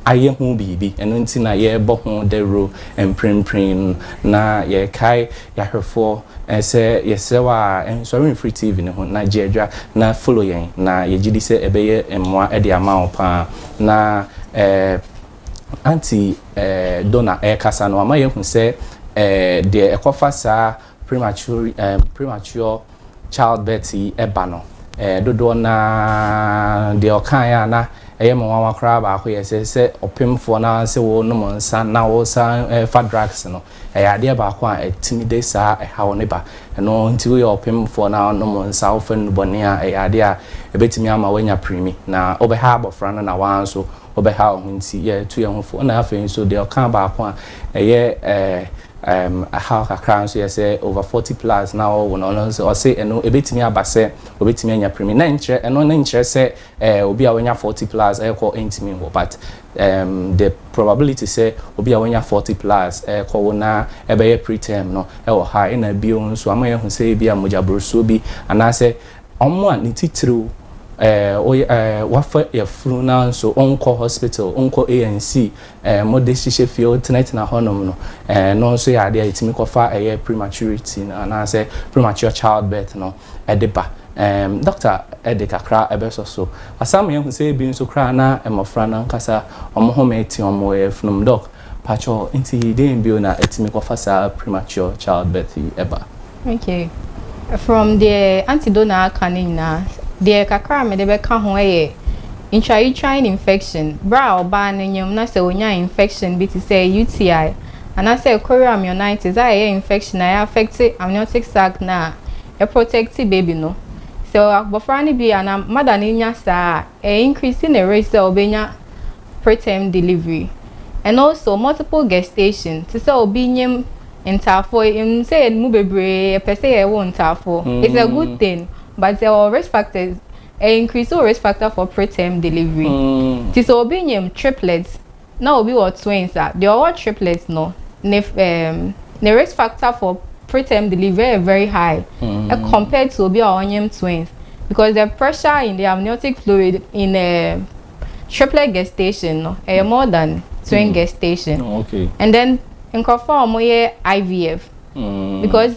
ayɛ ho biribi. Ɛno nti na yɛrebɔ ho dawuro mprempren no. Na yɛrekae Yahwɛfoɔ, sɛ yɛsrɛ wo a, nsɔre mfiri TV no ho na gye adwa na follow yɛn, na yɛgye di sɛ ɛbɛyɛ mmoa de ama wo paa. Na eh, Aunty eh, Donna ɛrekasa no, wama yɛahu sɛ eh, deɛ ɛkɔfa saa premature, eh, premature childbirth yi ɛba no, eh, dodoɔ no ara deɛ ɔkaeɛ a na ɛyɛ me nwanwa koraa baako yɛ sɛ, sɛ ɔpemfoɔ no ara se wonom nsa na wosan eh, fa drugs no, Ɛyɛ adeɛ baako a ɛtumi de saa ɛhaw no ba. Ɛno nti woyɛ ɔpemfoɔ na wonom nsa, wofa nnubɔne a, ɛyɛ adeɛ a ɛbɛtumi ama woanya pirimi. Na wobɛha abɔfra no na wo ara nso wobɛha wo ho. Nti yɛtu yɛn ho fo. Ɛna afei nso deɛ ɔkaa baako a ɛyɛ ɛhaw kakra nso yɛ sɛ over forty plus na wɔwo no. Ɔno nso ɔse ɛno ɛbɛtumi aba sɛ ɔbɛtumi anya pirimi. Na ɛnkyerɛ, ɛno no nkyerɛ sɛ obi a wanya forty plus rekɔ ntumi nwo but Erm the probability sɛ obi a wanya forty plus rekɔ wo na ɛbɛyɛ pre term no wɔ high ɛna bio nso ama yɛahu sɛ ebi a mogya borosoɔ bi anaasɛ wɔn a ne titiriw ɛɛ ɛɛ wafa yafunu na nso onkɔ hospital onkɔ ANC ɛɛ mode hyehyɛ fie otenatena hɔnom no ɛɛ no nso yɛ adeɛ a yɛtumi kɔfa ɛyɛ prematurity no anaasɛ premature childbirth no. de ba. Ɛɛm, dɔkta de kakra bɛsɔ so. Asam yɛahu sɛ ebi nso koraa na mmofra no ankasa wɔn home te wɔn yafunum. Dɔk, pakyɛ nti dɛn bio na etumi kɔfa saa premature childbirth yi ba? Okay, from deɛ Aunty Dona aka no nyinaa, deɛ kakra a mede bɛka ho yɛ intrauterine infection, berɛ a ɔbaa no nyam na sɛ ɔnya infection bi te sɛ UTI anaasɛ chorioamnionitis a ɛyɛ infection a ɛ affect amniotic sac no a ɛ protect baby no. Sɛ abɔfra no bi anaa mother no nya saa a, ɛ increase ne risk sɛ ɔbɛnya preterm delivery. And also multiple gestation, te sɛ obi nyem ntaafoɔ, yɛnim sɛ yɛn mu bebree yɛpɛ sɛ yɛwo ntaafoɔ, it's a good thing but ɛwɔ risk factors, ɛ increase wo risk factor for preterm delivery. Nti sɛ obi nyem triplets, Na obi wɔ twins a, deɛ ɔwɔ triplets no, ne ɛɛm ne risk factor for preterm delivery yɛ very high compared to obi a ɔnyem twins because the pressure in the amniotic fluid in ɛɛm triplet gestation no ɛyɛ more than twin gestation and then nkorɔfoɔ a wɔyɛ IVF because.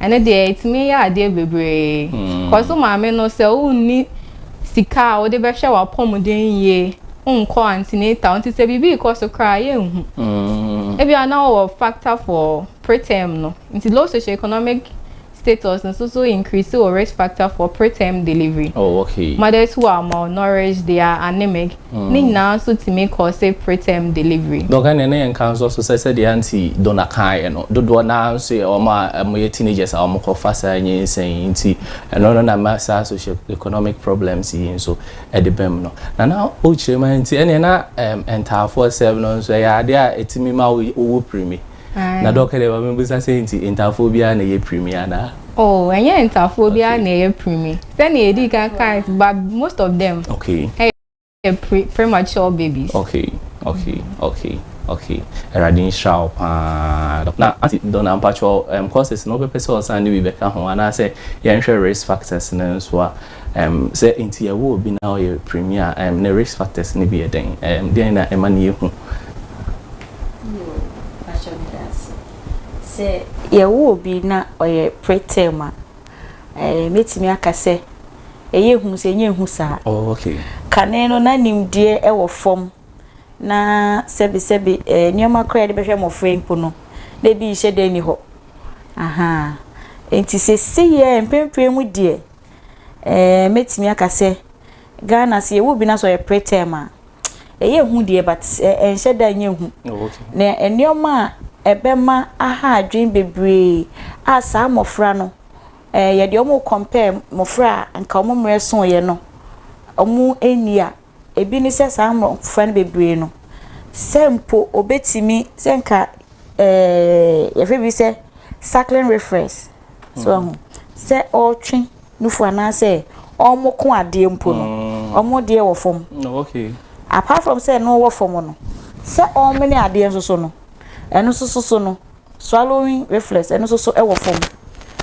ɛno deɛ ɛtumi yɛ adeɛ bebree kɔ so maame no sɛ wonni sika a wode bɛhwɛ w'apɔmuden yie nkɔ antenatal nti sɛ biribi rekɔ so koraa yɛnhu ebia na wɔwɔ factor for preterm no nti low socioeconomic status nso so increase wɔ risk factor for preterm delivery oh, okay. mothers who are malnourished they are anemic Ne nyinaa nso tumi kɔɔse preterm delivery. Dɔk, ɛnneɛ na yɛnka nso so sɛ sɛdeɛ Aunty Donna kaeɛ no, dodoɔ no ara nso yɛ wɔn a wɔyɛ teenagers a wɔkɔfa saa nyinsɛn yi nti, ɛno no na ɛma saa socio-economic problems yi nso de ba mu no. Na na wokyerɛ mu ara nti, ɛnneɛ na ntaafoɔ sɛm no nso, ɛyɛ adeɛ a ɛtumi ma wowu pirimi. Na dɛ ɔkɛ dɛ ma mebisa sɛ nti ntaafoɔ biara na ɛyɛ pirimi anaa? Oh ɛnyɛ ntaafoɔ biara na ɛyɛ pirimi. Sɛnea yɛdii kan kae ba most of them ɛyɛ premature babies. Okay okay okay okay Awurade nhyira wo paa. Na Aunty Donna mpakyɛw ɛm courses no wobɛpɛ sɛ ɔsan de bi bɛka ho anaasɛ yɛnhwɛ risk factors no nso a ɛm sɛ nti yɛwo obi na ɔyɛ pirimi a ɛm ne risk factors no bi yɛ dɛn ɛm deɛn na ɛma no yɛ hu? Yoo pakyɛ meda ase. Sɛ yɛwo obi na ɔyɛ preterm a, ɛɛ mɛtumi aka sɛ ɛyɛ hu sɛ ɛnyɛ hu saa. Oh okay. Kane no na nimdeɛ ɛwɔ fam na sɛbi sɛbi ɛɛ nneɛma koraa yɛde bɛhwɛ mmɔfra yi mpo no na ebi nhyɛ da nni hɔ. Ahaa nti sɛsei ɛɛ mpɛn pii mu deɛ ɛɛ mɛtumi aka sɛ Ghana sɛ yɛwo obi na sɛ ɔyɛ preterm a, ɛyɛ hu deɛ but ɛnhyɛ da nyɛ hu oh, na nneɛma a ɛbɛma aha adwene bebree a saa mmɔfra no ɛɛ yɛde wɔn compare mmɔfra a nka wɔn mmerɛ so yɛ no wɔn ani a ebi ne sɛ saa mmɔfra no bebree no sɛ mpo obetumi sɛ nka ɛɛ yɛfɛ bi sɛ cycling reference so ɛho sɛ ɔretwe. nufo anaasɛ wɔn ko adeɛ mpo no, wɔn deɛ wɔ fam. Apart from sɛ ɛno wɔ fam no, sɛ wɔmene adeɛ nso so no, ɛno nso so so no, swallowing reflex ɛno nso so wɔ fam.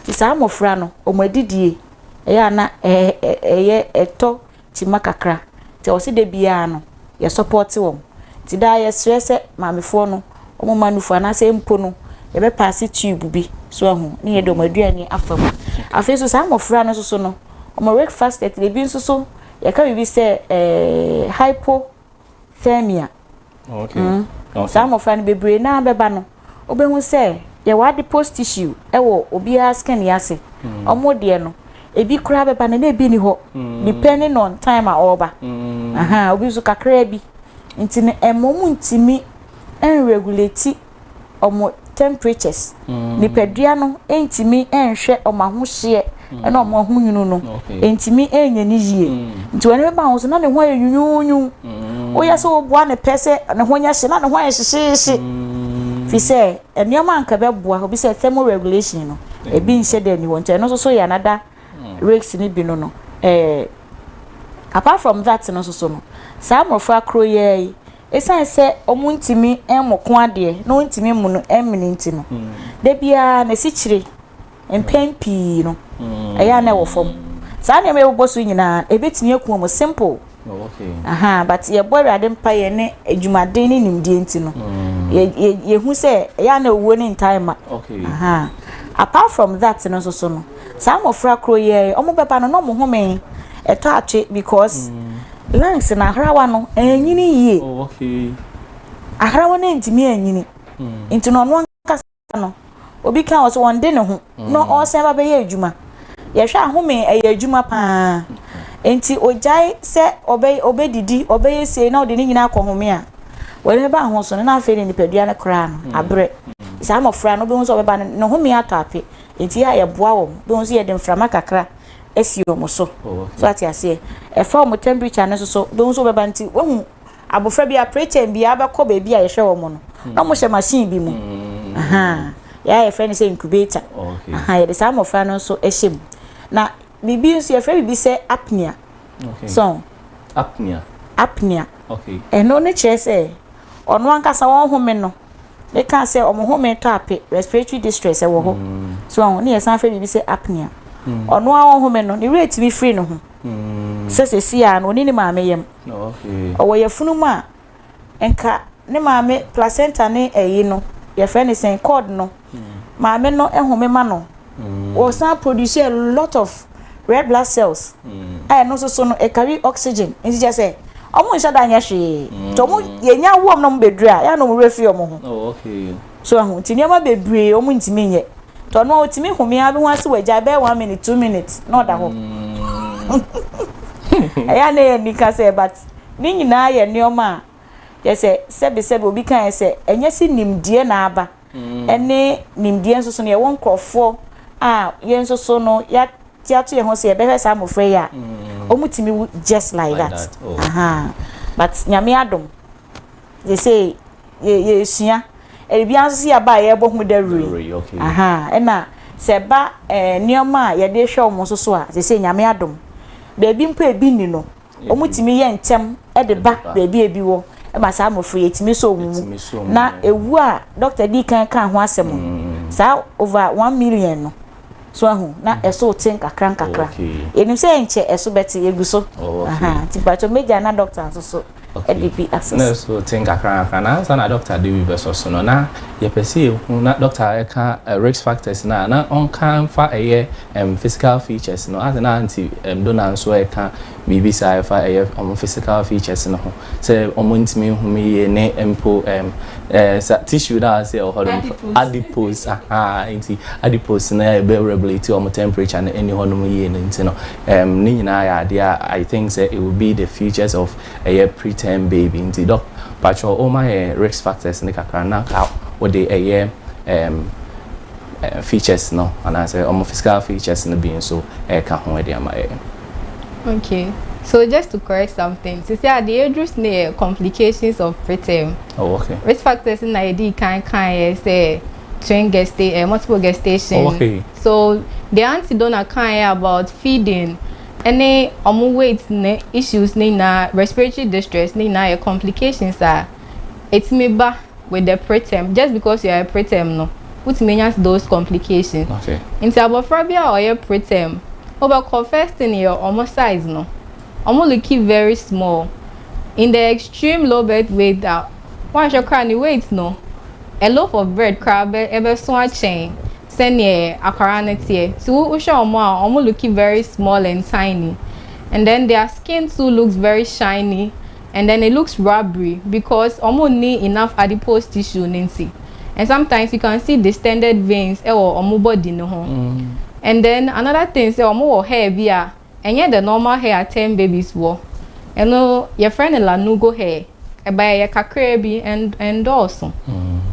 Nti saa mmɔfra no, wɔn adidie ɛyɛ ana ɛyɛ ɛtɔ Ti ma kakra nti ɔwɔ sɛ dabiaa no yɛ sɔpɔte wɔn nti daa yɛ srɛ sɛ maamefoɔ no wɔn ma nufo anaasɛ mpo no yɛ bɛ paase tube bi so ahu ne yɛ de wɔn aduane afa mu afei nso saa mmɔfra no nso so no wɔn rake fastet na ebi nso so yɛ ka biribi sɛ ɛɛ hypo third year. Okay. Mm. Okay. Saa mmɔfra no bebree naa bɛba no, wobɛhu sɛ yɛwɔ adipose tissue ɛwɔ obiara skin yɛ ase. Mm. Ɔmo deɛ no, ebi koraa bɛba no na ebi ni hɔ. Mm. Depending on time a ɔreba. Mm. Aha, obi nso kakraa bi. Nti no, ɛma ɔmo ntumi ɛnregulate wɔn temperatures, mm. nipadua no ntumi nhwɛ wɔn ahohyeɛ ɛna wɔn ahonyunu no ntumi nyɛ ne yie mm. nti wɔn ani bɛba ho so na ne ho ayɛ nyunyunyu mm. woyɛ sɛ wɔboa ne pɛ sɛ ne ho nyɛ hye na ne ho ayɛ hyehyeehye mm. fi sɛ nneɛma nka bɛboa obi sɛ thermal regulation no ebi nhyɛ dɛ ni hɔ nti ɛno nso so yɛ anada risk ne bi no no ɛɛ apart from that no nso so no saa mmɔfra koro yɛ yi Esiane sɛ wɔntumi mmɔ ko adeɛ na wɔntumi mmu no mmene nti no, da biara n'asikyire mpɛn pii no ɛyɛ a na ɛwɔ fam. Saa nneɛma yi a ɛbobɔ so nyinaa ɛbɛtumi aku wɔn simple ahaa but yɛbɔ Awurade mpaeɛ ne adwumaden ne nimdeɛ nti no yɛhu sɛ ɛyɛ a na owuo no ntaa mma ahaa. Apart from that no nso so no, Saa mmɔfra koro yi ɛ, wɔn bɛba no na wɔn home ɛtɔ atwe because mm. lungs na ahrawa no ɛnyini yie. Oh, okay. Ahrawa no ntumi ɛnyini. Mm. Nti na ɔno ankasa no obi ka wɔ so wɔn de ne ho mm. na ɔsan ba bɛyɛ adwuma. Yɛhwɛ ahome ɛyɛ adwuma paa. Nti ogyae sɛ ɔbɛ ɔbɛdidi ɔbɛyɛ sie na ɔde ne nyinaa akɔ home a wɔde ne ba ho so no na afei ne nipadua no koraa no abrɛ. Saa mmɔfra no bi ho sɛ ɔbɛba no ne home atɔ ape. Enti yɛ a yɛboa wɔn. Wobɛhu sɛ yɛde mframa kakra asi wɔn so. So wate aseɛ? Ɛfa wɔn temperature no nso so. Wobɛhu sɛ wɔbɛba nti wohu abɔfra biara preterm biara bɛkɔ baabi a yɛhwɛ wɔn no na wɔhyɛ machine bi mu. Aha. Yɛa yɛfrɛ no sɛ incubator. Aha. Yɛde saa mmɔfra no nso hyɛ mu. Na biribi nso yɛfrɛ biribi sɛ apnea. So. Apnea. Apnea. Okay. Ɛno ne kyerɛ sɛ ɔno ankasa wɔn home no Me ka sɛ ɔmo home tɔ ape, respiratory distress ɛwɔ hɔ. Mm. So ɔho ne yɛsan fɛ biribi sɛ apnea. Mm. Ɔno a ɔhome no, ne werɛ tumi firi ne ho. Mm. Sɛ sɛsi a no, ɔni ne maame yam. Okay. Ɔwɔ yɛfunu mu a, nka ne maame placenta ne ɛyi no, yɛfɛ ne sɛn cord no. maame no home ma no, ɔsan produce a lot of red blood cells a ɛno nso so no ɛcarry oxygen nti kyɛ sɛ ɔmo nhyɛ da nyɛ hwee nti ɔmo yɛnya wom na ɔmo bɛduru a yɛa na ɔmo werɛ firi ɔmo ho oh, so ɛho nti nneɛma bebree ɔmo ntumi nyɛ nti ɔno a ɔtumi home a bɛhu ase wɔ agya bɛyɛ one minute two minutes na ɔda hɔ ɛyɛ na yɛ nika sɛ but ne nyinaa yɛ nneɛma a yɛ sɛ sɛbesɛbe obi kan sɛ ɛnyɛ sɛ nimdeɛ na aba ne nimdeɛ nso so no, yɛwɔ nkurɔfoɔ a yɛn nso so no yɛate ato yɛn ho sɛ yɛbɛhwɛ saa mmɔfra yi a, wɔtumi wu just like that. Ahaa. But Nyame adom, yɛsei yɛ yɛresua. Biribiara nso so yɛ aba a yɛrebɔ ho dawuro yi. Dawuro yi, okay. Ahaa. Ɛna sɛ ɛba eh, nneɛma a yɛde hwɛ wɔn nso so a, sɛsei Nyame adom, baabi mpo a ebi nni no, Wɔtumi yɛ ntɛm de ba baabi a ebi wɔ ma saa mmofra yi, etumi sɔ wɔn mu. Na ewu a dɔkta dii kan kaa ho asɛm no, mm. saa over one million no, so ahu na mm. ɛso te nkakra nkakra. Yɛnim sɛ ɛnkyɛ ɛso bɛte yɛgu so. Nti patro media na dɔkta nso so ɛde bi asɛs. Na ɛso te nkakra nkakra na ansa na dɔkta de bi bɛsɔ so no na yɛpɛ sɛ yɛhu na dɔkta ɛka eh, risk factors na na ɔnka mfa ɛyɛ Em physical features no ase na aunty em Dona nso reka biribi saa ɛfa ɛyɛ wɔn physical features no ho sɛ wɔn ntumi nhu me yie ne mpo em eh sa tissue no a ɔse ɛwɔ hɔ nom Adipose adipose ahaa nti adipose no a ɛbɛ regulate wɔn temperature no ɛni hɔ nom yie no nti no em ne nyinaa yɛ adeɛ a I think sɛ it will be the features of ɛyɛ preterm baby nti doc patrɔ wo ma yɛn risk factors no kakra na ka wode ɛyɛ em features no anaasɛ wɔn physical features no bi nso ɛka ho ɛde ama yɛn. Okay, so just to correct something, sisi a deɛ yɛduru so no yɛ complications of preterm. Oh, okay. Risk factors na yɛde kan kan yɛ sɛ twin gestation, eh, multiple gestation. Oh, okay. So the auntie donna kan yɛ about feeding. ɛne ɔmo weight ne issues ne nyinaa respiratory distress ne nyinaa yɛ complications a ɛtumi ba with the preterm just because you are a preterm no wotumi anya those complications okay. nti abɔfra bi a ɔyɛ preterm wobɛkɔ first thing yɛ ɔmo size no ɔmo looki very small in the extreme low birth weight a woanhwɛ koraa ne weight no a loaf of bread koraa ɛbɛso akyɛn sɛneɛ akwaraa no teɛ nti wohwɛ ɔmo a ɔmo looki very small and tiny and then their skin too looks very shiny and then it looks rubbery because ɔmo nni enough adipose tissue no nti and sometimes you can see distended veins ɛwɔ ɔmo body no ho and then another thing sɛ ɔmo wɔ hair bi a ɛnyɛ the normal hair a term babies wɔ ɛno yɛfrɛ no lanugo hair ɛba ɛyɛ kakraa bi ɛnn ɛndɔɔso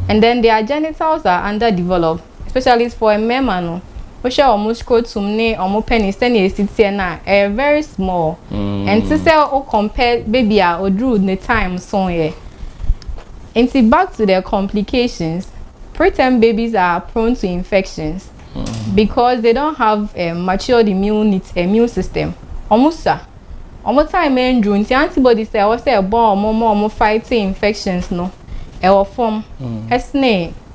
and then their genitals are under develop. Especially for mmarima no, wohwɛ wɔn scrotum ne wɔn penis sɛnea esi teɛ no a, ɛyɛ very small. Ɛnte mm. sɛ wo compare baby a oduru ne time so yɛ. Nti back to the complications, preterm babies are prone to infections mm. because they don't have a matured immune, immune system. Wɔn sa. Wɔn time nduru nti antibodies a ɛwɔ sɛ ɛbɔ wɔn ma wɔn fight infections no ɛwɔ fam mm. ɛsene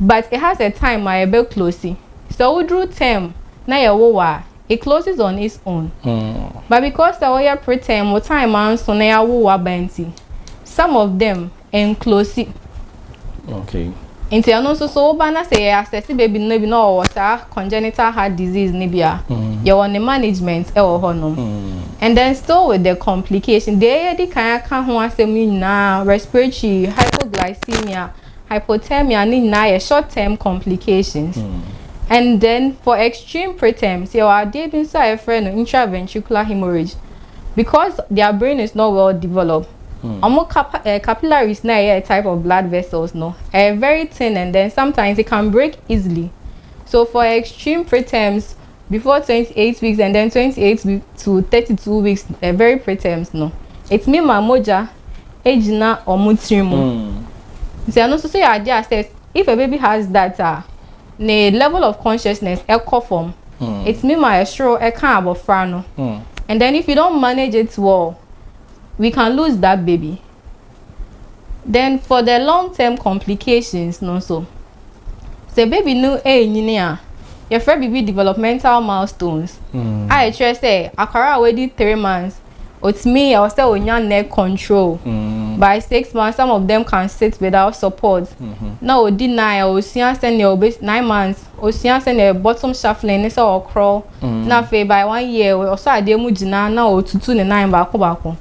but it has a time a ɛbɛ closi, sɛ wo duru term na yɛ wo wo a it closes on its own but because sɛ wo yɛ preterm wo time anso na yɛ wo wo aba nti some of them ɛnclosi nti ɛno nso so wo ba na sɛ yɛ assessi baby no bi na ɔwɔ saa congenital heart disease no bi a yɛ wɔ ne management ɛwɔ hɔ nom and then still with the complication deɛ yɛ di kan aka ho asɛm nyinaa respiratory hypoglycemia hypothermia ne nyinaa yɛ short term complications and then for extreme preterms yɛwɔ adeɛ bi nso a yɛfrɛ no intraventricular hemorrhage because their brain is not well developed wɔn cap eh, capillaries na ɛyɛ type of blood vessels no ɛyɛ very thin and then sometimes it can break easily so for extreme preterms Before twenty eight weeks and then twenty eight to thirty two weeks ɛ very preterm no ɛtumi ma mogya ɛgyina wɔn tiri mu nti ɛno nso so yɛ adeɛ a sɛ if a baby has that a ne level of consciousness ɛkɔ fam ɛtumi ma ɛsoro ɛka abɔfra no and then if you don't manage it well we can lose that baby Then for the long term complications no nso, sɛ baby no ɛrenyini a, yɛfrɛ biribi developmental milestones mm. a ɛkyerɛ sɛ akwara a wadi three months otumi ɛwɔ sɛ onya neck control mm. by six months some of them can sit without support mm -hmm. na odi nine osua sɛnea obe nine months osua sɛnea bottom shuffling ne sɛ ɔkorɔ mm. na afei by one year ɔsɔ adeɛ mu gyina na otutu ne nan baako baako.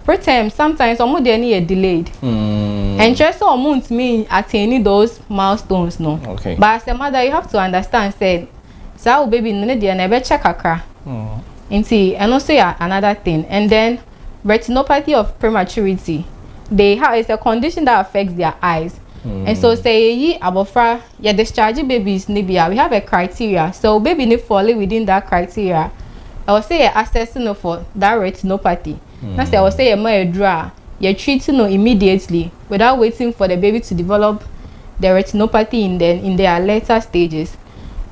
Preterm sometimes ɔmo deɛ no yɛ delayed. Mm. Ɛnkyerɛ sɛ ɔmo ntumi attain those milestones no. Okay. But as a mother you have to understand sɛ saa wo baby no ne deɛ no ɛbɛkyɛ kakra. Mm. Nti ɛno nso yɛ another thing and then retinopathy of prematurity they have it's a condition that affects their eyes. Mm. And so sɛ yɛyi abɔfra Yɛ discharge babies no bi a, we have a criteria, sɛ wo baby no falle within that criteria a, ɛwɔ sɛ yɛ assess no for that retinopathy, na sɛ ɛwɔ sɛ yɛma aduro a, yɛ treat no immediately without waiting for the baby to develop the retinopathy in the in their later stages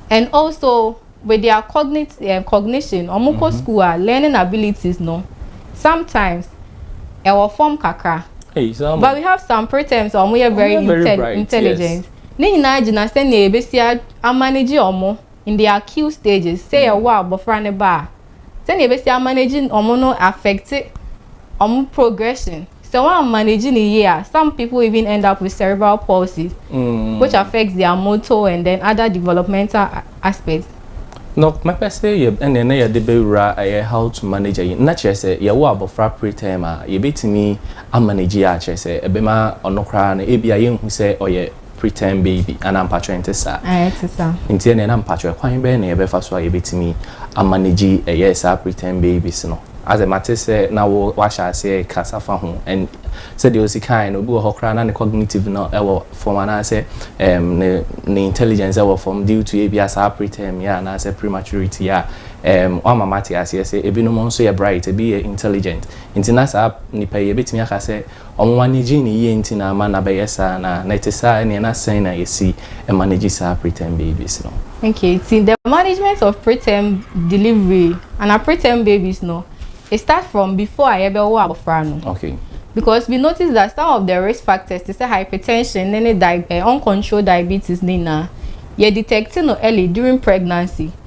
and also. with their cognit eh, cognition wɔn kɔ school a learning abilities no sometimes ɛwɔ fam kakra Hey, saa mo. but we have some preterms a wɔn yɛ very Wɔyɛ very intel bright, intelligent ne nyinaa gyina sɛnea yɛbɛsi a- amanage wɔn in their acute stages sɛ yɛwɔ a abɔfra no ba a sɛnea yɛbɛsi amanage wɔn no affect wɔn progression Sɛ wɔammanage no yie a, some people even end up with cerebral palsy, which affects their motor and then other developmental aspects. No, mɛpɛ sɛ yɛ ɛnna na yɛde bɛwura ɛyɛ how to manage ayi, na kyerɛ sɛ yɛwo abɔfra preterm a, yɛbɛtumi amanage yɛ a, kyerɛ sɛ ɛbɛma ɔno koraa no, ebia yɛnhu sɛ ɔyɛ. Pretend baby, anaa mpakyɛw ɛnte saa? Ae, ɛte saa. Nti ɛneɛ na mpakyɛw ɛkwan bɛn na yɛbɛfa so a yɛbɛtumi a manage ɛyɛ saa pretend babies no? Asɛ mate sɛ na wo wahyɛ aseɛ rekasa fa ho and sɛdeɛ osi kaeɛ no obi wɔ hɔ koraa na ne cognitive no ɛwɔ fam anaasɛ um, ne, ne intelligence ɛwɔ fam due to ebia saa preterm yɛ anaasɛ prematurity a um, wama mate aseɛ sɛ ebinom nso yɛ bright ebi yɛ intelligent nti na saa nipa yi ebɛtumi aka sɛ Wɔn ani gyee no yie nti na ama no abɛyɛ saa anaa? Na ɛte saa ɛneɛ na sɛn na yɛsi manage saa preterm babies no? Okay, nti the management of preterm delivery anaa preterm babies no, it starts from before a yɛbɛwo abɔfra no. Okay. Because we notice that some of the risk factors te sɛ hypertension ne ne di eh, uncontrolled diabetes ne nyinaa, yɛ detect no early during pregnancy.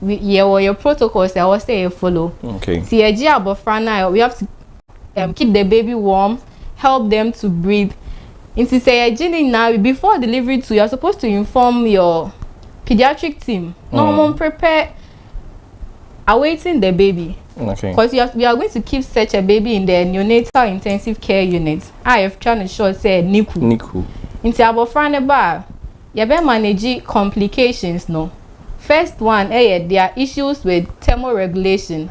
we yɛ wɔ yɛ protocols a ɛwɔ sɛ yɛ follow okay ti yɛ gye abɔfra no a we have to um, keep the baby warm help them to breathe nti sɛ yɛ gye ne nyinaa before delivery too you are supposed to inform your pediatric team na mm. wɔn prepare awaiting the baby. Okay. Because we are, we are going to keep such a baby in the neonatal intensive care unit. I have tried to show say Niku. Niku. Into abofra ne ba Yɛ bɛ manage complications no first one ɛyɛ their issues with thermoregulation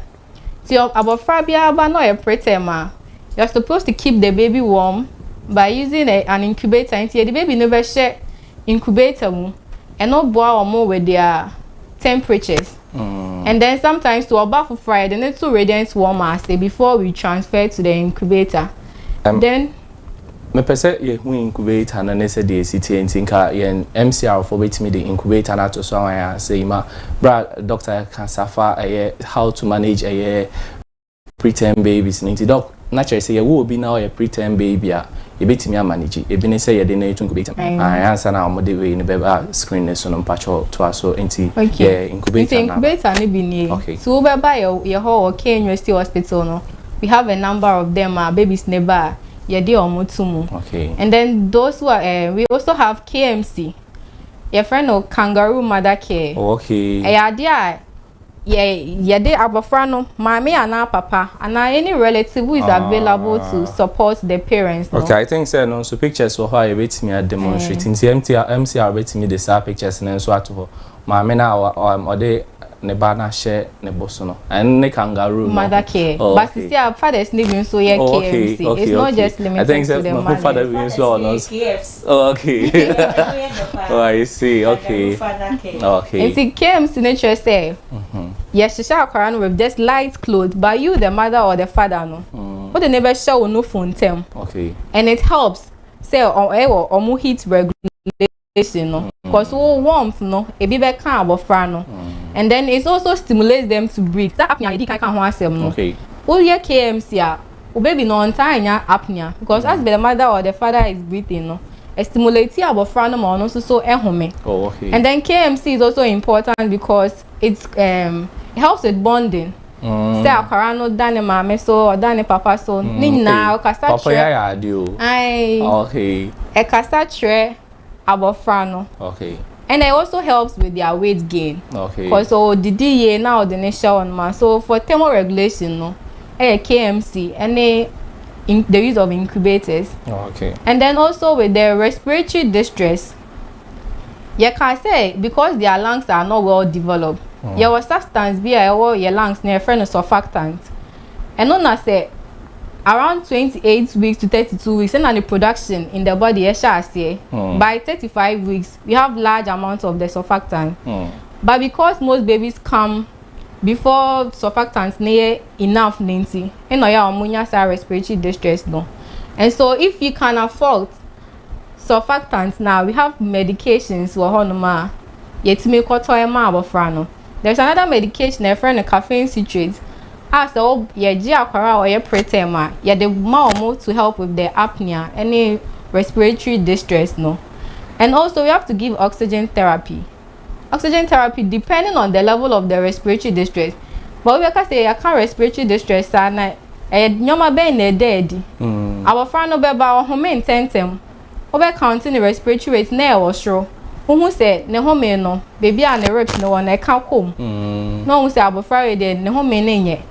nti ɔm abɔfra biara ba na ɔyɛ preterm a you're supposed to keep the baby warm by using a an incubator nti yɛde baby no bɛ hyɛ incubator mu ɛno boa ɔm with their temperatures and then sometimes to ɔba foforɔ a yɛde no to radiant warmer ase before we transfer to the incubator then. Mepɛ sɛ yɛhu incubator no ne sɛdeɛ ɛsi teɛ nti nka yɛn MCR foɔ bɛtumi de incubator no ato so ama yɛn asɛ yi ma berɛ a doctor ka sa fa ɛyɛ how to manage ɛyɛ preterm babies no nti doc na kyerɛ sɛ yɛwɔ obi na ɔyɛ preterm baby a yɛbɛtumi amanegye ebi ne sɛ yɛde no to incubator mu ae ansa na wɔde wei no bɛba screen no so no mpakyɛ toa so nti yɛ incubator no incubator no bi nie okay. so wobɛba yɛ hɔ wɔ K University Hospital no we have a number of them are babies neba yɛde ɔmo to mu okay. and then those who are uh, we also have KMC your friend no kangaroo mother care oh, okay ɛyɛ adeɛ a yɛ yɛde abɔfra no maame anaa papa anaa any relative who is ah. available to support the parents no. okay i think sɛ no nso pictures wɔ hɔ a yɛbɛtumi a demonstrate eh. nti mcr bɛtumi de saa pictures no nso ato hɔ Maame no a ɔm ɔde ne ba no ahyɛ ne bo so no, ɛno ne kangaroo no? Mother care. Oh, But okay. sisi a fathers no bi nso yɛ Oh, okay, KFC. It's okay, not okay. just I think limited to sɛ the mahu mothers. father bi nso a ɔno Fathers nso. yɛ KFC. Oh, okay. Ɛno yɛ dɛ paa. Oh, I see. Kangaroo Okay. father care. Oh, okay. Nti KMC no kyerɛ sɛ yɛhyehyɛ akwadaa no with just light clothes but you the mother or the father no wode ne bɛhyɛ wo nofo ntɛm Okay. and it helps sɛ ɔ- ɛwɔ ɔmo heat regulation stimulation no because mm. wo warmth no ebi bɛ ka abɔfra no mm. and then it also stimulates them to breathe that apnea yɛ di kan ka ho asɛm no woyɛ kmc a wo baby no ɔntaa nya apnea because mm. as the mother or the father is breathing no stimulate abɔfra no ma ɔno nso so ɛhome oh, okay. and then kmc is also important because it um, it helps with bonding mm. sɛ akwara no da ne maame so ɔda ne papa so mm, ne nyinaa ɔkasa kyerɛ papa yɛ ayɛ ade o ayi okay ɛkasa kyerɛ abɔfra no okay and it also helps with their weight gain. Okay. Because so the DA now the nation on ma. So for thermal regulation, no, eh, KMC, any in, the use of incubators. Oh, okay. And then also with the respiratory distress, Yɛkaa sɛ because their lungs are not well developed, mm. yɛwɔ substance bi a ɛwɔ yɛ lungs na yɛfrɛ no surfactant. Ɛno na sɛ around 28 weeks to 32 weeks ɛna ne production in the body ɛhyɛ aseɛ. Mm. By 35 weeks we have large amount of the surfactant. Mm. But because most babies come before surfactant ne yɛ enough ne nti ɛna ɔyɛ a wɔn nya saa respiratory distress no. And so if you can afford surfactant na we have medications wɔ hɔ nom a yɛtumi kɔtɔ ɛma abɔfra no there is another medication a yɛfrɛ no caffeine citrate a sɛ wo yɛgye akwara a ɔyɛ preterm a yɛde ma wɔn to help with the apnea ɛne respiratory distress no and also we have to give oxygen therapy Oxygen therapy depending on the level of the respiratory distress. But we bɛka sɛ yɛka respiratory distress a na ɛyɛ nneɛma bɛn na ɛda adi? Mm. Abɔfra no bɛba ɔhome ntɛntɛm. Wobɛ count ne respiratory rate na ɛwɔ soro. Wohu sɛ ne home no, baabi a ne ribs no wɔ no ɛka kɔm. Mm. Na wohu sɛ abɔfra wei deɛ ne home no nyɛ.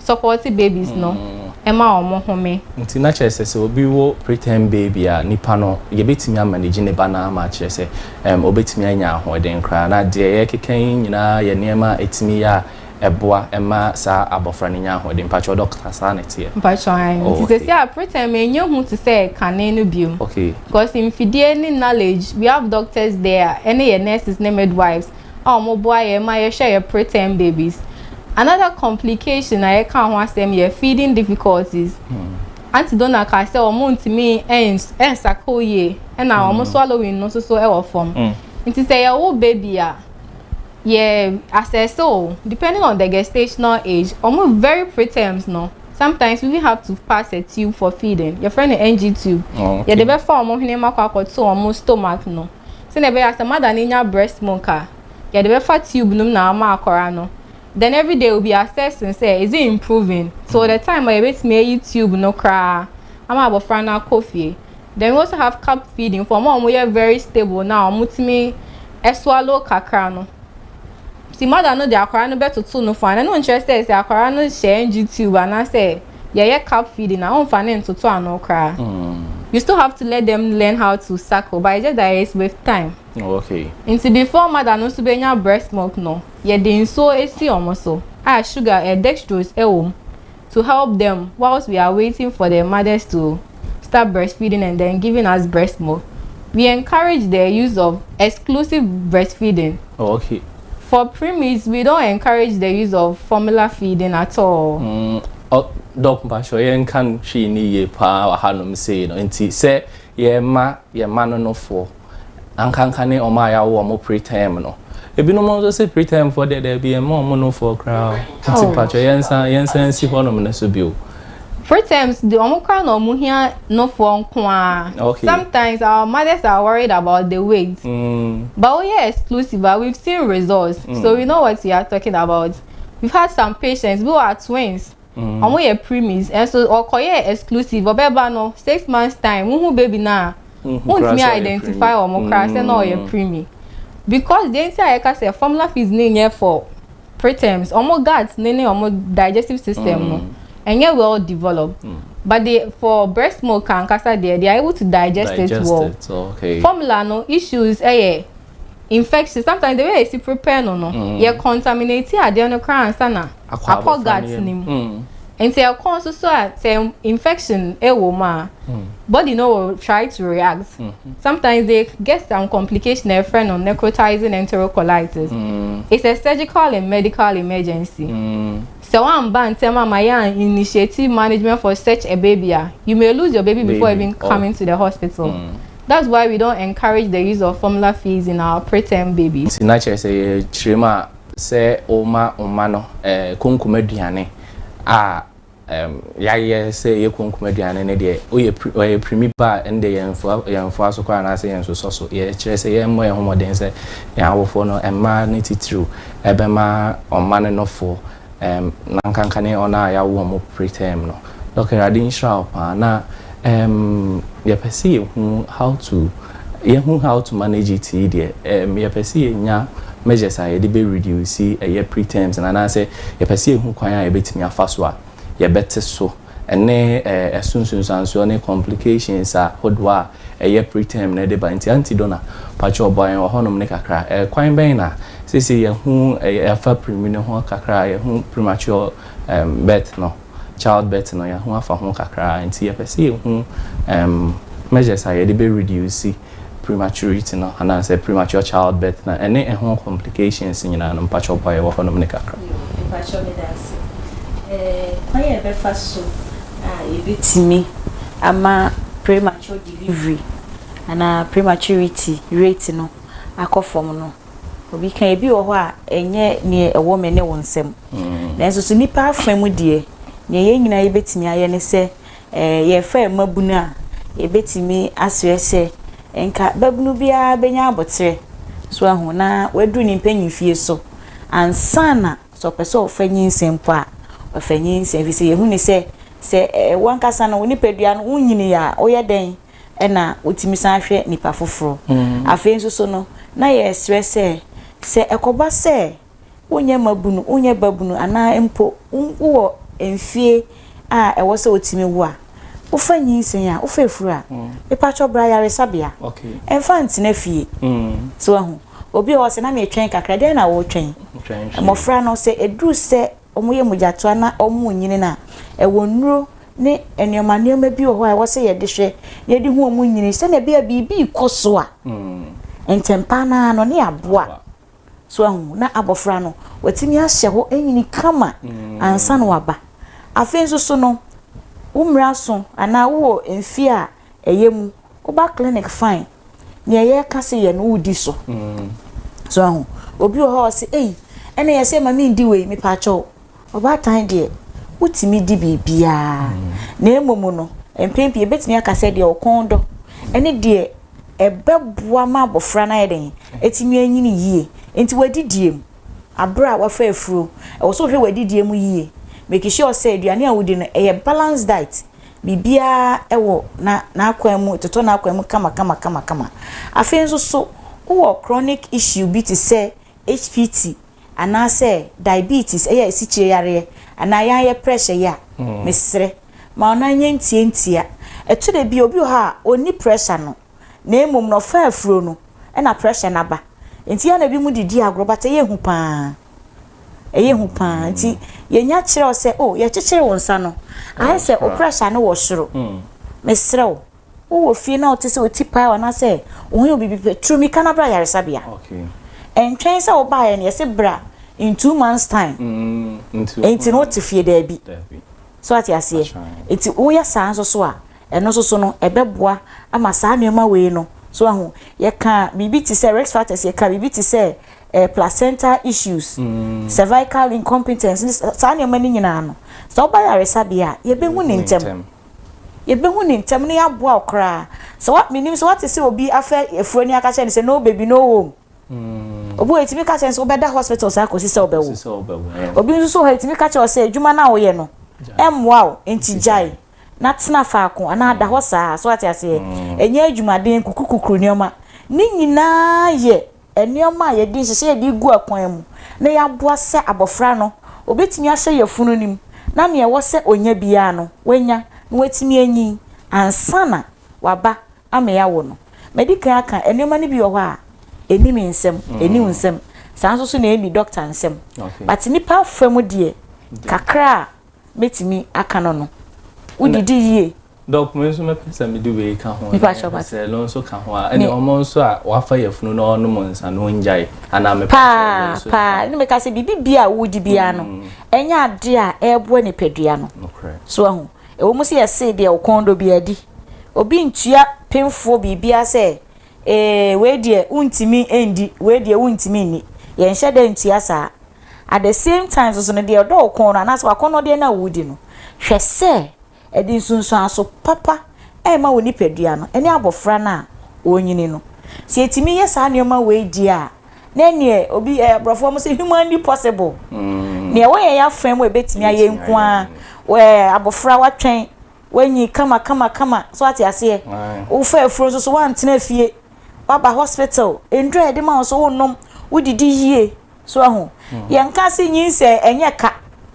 supporte babies no ɛma wɔn home. Nti na kyerɛ sɛ sɛ obi wo preterm baby a nipa no yɛbɛtumi amanage ne ba no ama akyerɛ sɛ ɛm ɔbɛtumi anya ahoɔden koraa na deɛ yɛrekeka yi nyinaa yɛ nneɛma a ɛtumi yɛ a ɛboa ɛma saa abɔfra no nya ahoɔden mpakyɛw dɔkta saa na ɛteɛ? Mpakyɛw ae nti sɛsi a preterm ɛnyɛ hu te sɛ kane no biom okay because mfidie ne knowledge we have doctors there a ɛne yɛ nurses ne midwives a ɔmo boa yɛn ma yɛhwɛ yɛn preterm babies. Another complication a yɛkaa ho asɛm yɛ feeding difficulties. Hmm. Aunty Donna kaa sɛ ɔmo ntumi ɛnsakoo yie ɛna ɔmo hmm. swallowing no nso so ɛwɔ fam. Hmm. Nti sɛ yɛwo baby a yɛ asɛse o depending on the gestational age ɔmo very preterms no sometimes we have to pass a tube for feeding yɛfrɛ no ng tube oh, yɛde bɛfa ɔmo hwene mu akɔ akɔto ɔmo stomach no. sɛnea ɛbɛyɛ a sɛ mother no nya breast milk a yɛde bɛfa tube no mu na ama akwaraa no then every day will be assessing sɛ is it improving till the time a yɛbɛtumi ayi tube no koraa ama abɔfra no akɔ fie then we also have cup feeding for wɔn a wɔyɛ very stable na wɔtumi swallow kakra no nti mother no de akwaraa no bɛtoto no fo a na ɛno nkyerɛ sɛ sɛ akwaraa no hyɛ ngye tube anaasɛ yɛyɛ cup feeding a ɔmfa no ntoto ano koraa you still have to let them learn how to suckle but it's just that it's with time oh, okay nti before mother no nso bɛnya breast milk no yɛde nsuo esi wɔn so a sugar eh, dextrose ɛwɔ mu to help them whilst we are waiting for the mothers to start breastfeeding and then giving us breast milk we encourage the use of exclusive breastfeeding oh, okay For preemies we don't encourage the use of formula feeding at all. Mm, Doc Mpacho, yɛn nka no hwee ne yie paa wɔ hanom sei no nti sɛ yɛma yɛn ma no nofoɔ ankanka ne ɔma a yɛawo ɔmo preterm no ebinom nso se preterm foɔ deɛ daabi yɛn ma ɔmo nofoɔ koraa nti oh. Mpacho yɛn nsa yɛn nsa nsi hɔnom no so bio. Free terms de ɔmo koraa na ɔmo hia no foɔ nkoaa okay sometimes our mothers are worried about the weight mm. but we are exclusive but we've seen results mm. so we know what we are talking about we've had some patients who are twins mm. ɔmo yɛ preemies ɛnso ɔkɔyɛ exclusive ɔbɛba no six months time wohu baby no a wontumi identify ɔmo koraa sɛ na ɔyɛ preemie because deɛ nti a yɛka sɛ formula feeds ne nyɛ for preterms ɔmo gut ne ne ɔmo digestive system no ɛnyɛ mm. well developed mm. but the for breast milk ankasa deɛ they are able to digest, digest it well it. Okay. formula no issues ɛyɛ eh, infection sometimes the way esi prepare no no mm. yɛ contaminate adeɛ no koraa ansa na akɔ gut ne mu. Mm. Nti ɛkɔn nso so a sɛ infection ɛwɔ mu a body no will try to react. Sometimes they get some complication a yɛfrɛ no necrotizing enterocolitis. It's a surgical and medical emergency. Sɛ w'anba ntɛm ama yɛ an initiative management for such a baby a you may lose your baby before even coming to the hospital. That's why we don't encourage the use of formula feeds in our preterm babies. Nti na kyerɛ sɛ yɛkyerɛ mu a. Sɛ worema wo mma no konkom aduane a, yɛayɛ sɛ ɛyɛ konkom aduane no deɛ, woyɛ ɔyɛ pirimi pa a, ɛnde yɛn mfoa yɛn mfoa so koraa anaasɛ yɛn nsosɔ so. Yɛkyerɛ sɛ yɛmmɔ yɛn ho mmɔden sɛ yɛn awofoɔ no, mmaa no titiriw, bɛma ɔmannonofoɔ. Erm na nkanka ne ɔn a yawo ɔmo preterm no. Doc Awurade nhyira wo paa na erm yɛpɛ sɛ yɛhu how to yɛhu how to manage it yi deɛ erm yɛpɛ sɛ yɛnya measures a yɛde bɛ reduce ɛyɛ preterms no anaasɛ yɛpɛ sɛ yɛhu kwan a yɛbɛtumi afa so a yɛbɛte so ne ɛso nsunsuansoɔ ne complications ahodoɔ a ɛyɛ preterm no de ba. Nti Aunty Donna, pakyɛw boa yɛn wɔ hɔnom no kakra. Kwan bɛn na seesei yɛahu afa primi no ho kakra a, yɛahu premature birth no, child birth no, yɛahu afa ho kakra. Nti yɛpɛ sɛ yɛhu measures a yɛde bɛ reduce prematurity no anaa sɛ premature child birth na ɛne ɛho complications nyinaa no mpakyɛw boa yɛ wɔ hɔ nom ne kakra. Yoo, mpakyɛw meda ase. Ɛɛ kwan a yɛbɛfa so a yɛbɛtumi ama premature delivery anaa prematurity rate no akɔ fam no, obi ka ebi wɔ hɔ a ɛnyɛ nea ɛwɔ me ne wo nsam. Nanso so nnipa afa mu deɛ, nea yɛn nyinaa yɛbɛtumi ayɛ ne sɛ Ɛɛ, yɛrefrɛ mmabunu a, yebetumi asrɛ sɛ nka babunu biara benya abotire, so ahu, na waduru ne mpanyimfie so ansa na sɛ ɔpɛ sɛ ɔfa nyinsɛn mpo a, wafa nyinsɛn. Ɛfiri sɛ, yɛahu no sɛ, sɛ wo ankasa no wo nipadua no wonnyinii a, woyɛ dɛn na wotumi san hwɛ nipa foforo? Afei nso so no, na yɛresrɛ sɛ, sɛ ɛkɔba sɛ wonyɛ mmabunu, wonyɛ babunu anaa mpo wowɔ mfeɛ a ɛwɔ sɛ wotumi wo a, wofa nyinsɛn a, wofa afuru a, mepakyɛw bra ayaresabea. Mfa ntena fie. So woahu? Obi wɔ hɔ sɛ, na meretwɛn kakra. Dɛn na woretwɛn? Mmɔfra no, sɛ ɛduru sɛ wɔyɛ mogyatoa na wɔrenyini no a, ɛwɔ nnuro ne nneɛma nneɛma bi wɔ hɔ a ɛwɔ sɛ yɛde hwɛ na yɛde hu wɔn nyini sɛnea ɛbɛyɛ a biribi rekɔ so a, ntɛmpa no ara no ne yɛaboa. So wahu? Na abɔfra no, watumi ahyɛ hɔ anyini kama mm. ansa na waba. Afei nso so no, wo mmiri aso anaa wowɔ mfie a ɛyɛ mu, woba clinic fine. Nea ɛyɛ ka se yɛ no wodi so. Mm. So wahu? Obi wɔ hɔ ɔse, ei, ɛna yɛ sɛ ma mendi wei, mepaakyɛw. Ɔbaatan deɛ, wotumi di biribiara, na mmom no, mpɛn pii yɛbɛtumi aka sɛ deɛ ɔkɔn dɔ ne deɛ ɛbɛboa ma abɔfra no ayɛ dɛn, atumi anyini yie. Nti w'adidie mu, aberɛ a wafa afuro, ɛwɔ sɛ wohwɛ w'adidie mu yie, make sure sɛ aduane a wodi no ɛyɛ balance diet, biribiara wɔ n'akwan mu, ɛtotɔ n'akwan mu kama kama kama kama. Afei nso so, wowɔ chronic issue bi te sɛ HPT, anaasɛ diabetes, yɛ asikyire yareɛ, anaa yɛayɛ pressure yi a, mesrɛ ma wo nan nyɛ ntiantia. Ɛtɔ da bi a, obi wɔ hɔ a, ɔnni pressure no, na mmom no, ɔfa afuro no na pressure no aba. Nti ɛyɛ a na binom de di agorɔ, but ɛyɛ hu pa ara. Ɛyɛ hu pa ara. Nti yɛnya kyerɛ wo sɛ, oh, yɛkyekyere wo nsa no, ayɛ sɛ wo pressure no wɔ soro. Mesrɛ wo. Wowɔ fie na wote sɛ oti paa anaasɛ wohia obi bi pɛ, tumi ka no bra yaresabea. Ɛntwɛn sɛ wobaeɛ no, yɛse bra in two months time. Enti no wote fie daabi. So ate aseɛ? Enti woyɛ saa nso so a, ɛno nso so no ɛbɛboa ama saa nneɛma wei no, so ahu? Yɛka biribi te sɛ risk factors, yɛka biribi te sɛ eh, placenta issues, cervical incompetence, saa nneɛma no nyinaa no, sɛ woba yaresabea a, yɛbɛhu ne ntɛm. Yɛbɛhu no ntɛm na yɛaboa wo koraa. Sɛ wa, mennim sɛ woate sɛ obi afɛ afuro ani aka kyerɛ no sɛ no baby, no home. Obi wɔ hɔ, yɛtumi ka kyerɛ no sɛ wobɛda hospital saa kɔsi sɛ wobɛwo. Obi nso so wɔ hɔ a, yɛtumi ka kyerɛ wo sɛ adwuma no a woyɛ no, ɛmmoa wo, enti gyae na tena faako anaa da hɔ saa. So woate aseɛ? Ɛnyɛ adwumaden, kukurukukuru nneɛma. Ne nyinaa yɛ. nneɛma a yɛde nhyehyɛe a yɛde regu akwan mu na yɛaboa sɛ abofra no obetumi ahyɛ yafunu no mu na nea ɛwɔ sɛ onya biara no, wanya na watumi anyin ansa na waba ama yɛawo no. Madi kan aka nneɛma no bi wɔ hɔ a, enni me nsam, enni wo nsam, saa nso so na enni dɔkta nsam. But nnipa fam deɛ, kakra a Mɛtumi aka no no. Wo didi yie. Doc me nso mɛpɛ sɛ mede wei ka ho. Nipa kyɛ ɔba. Sɛ lo nso ka ho a. Ɛne ɔmo nso a wafa yafunu na ɔnom nsa no ongyae. Anaa mepɛ sɛ ɔmo nso. Paa paa ne meka sɛ biribi bia a wodi bia no. Ɛnyɛ adeɛ a ɛɛboa nipadua no. Nokorɛ. So ahu. Ɛwɔ mu sɛ yɛsee deɛ ɔkɔn dɔ bia di. Obi ntua penfoɔ biribiara sɛ. Ee, wei deɛ wontumi ndi, wei deɛ wontumi nni. Yɛnhyɛ da ntua saa. At the same time nso no, deɛ ɔdɔ wo kɔn no anaasɛ w'akɔnnɔdeɛ no a woredi no, hwɛ sɛ ɛde nsunsuanso papa rema wo nipadua no ne abɔfra no a ɔrenyini no. Sɛ yɛtumi yɛ saa nneɛma wei deɛ a, na ɛnneɛ obi, ɛɛ, aborɔfoɔ wɔn sɛ humanly possible. Nea ɛwɔ yɛn afa mu a ɛbɛtumi ayɛ nko ara, ɛɛ, abɔfra watwɛn. Woanyi kama kama kama. So ate aseɛ? Wofaa afuro nso so woantena fie. Woaba hospital. Nnuro a yɛde ma wo so wonnom. Wodidi yie. So ahu? Hmm. Yɛnka ase nyinsɛn ɛnyɛ ka.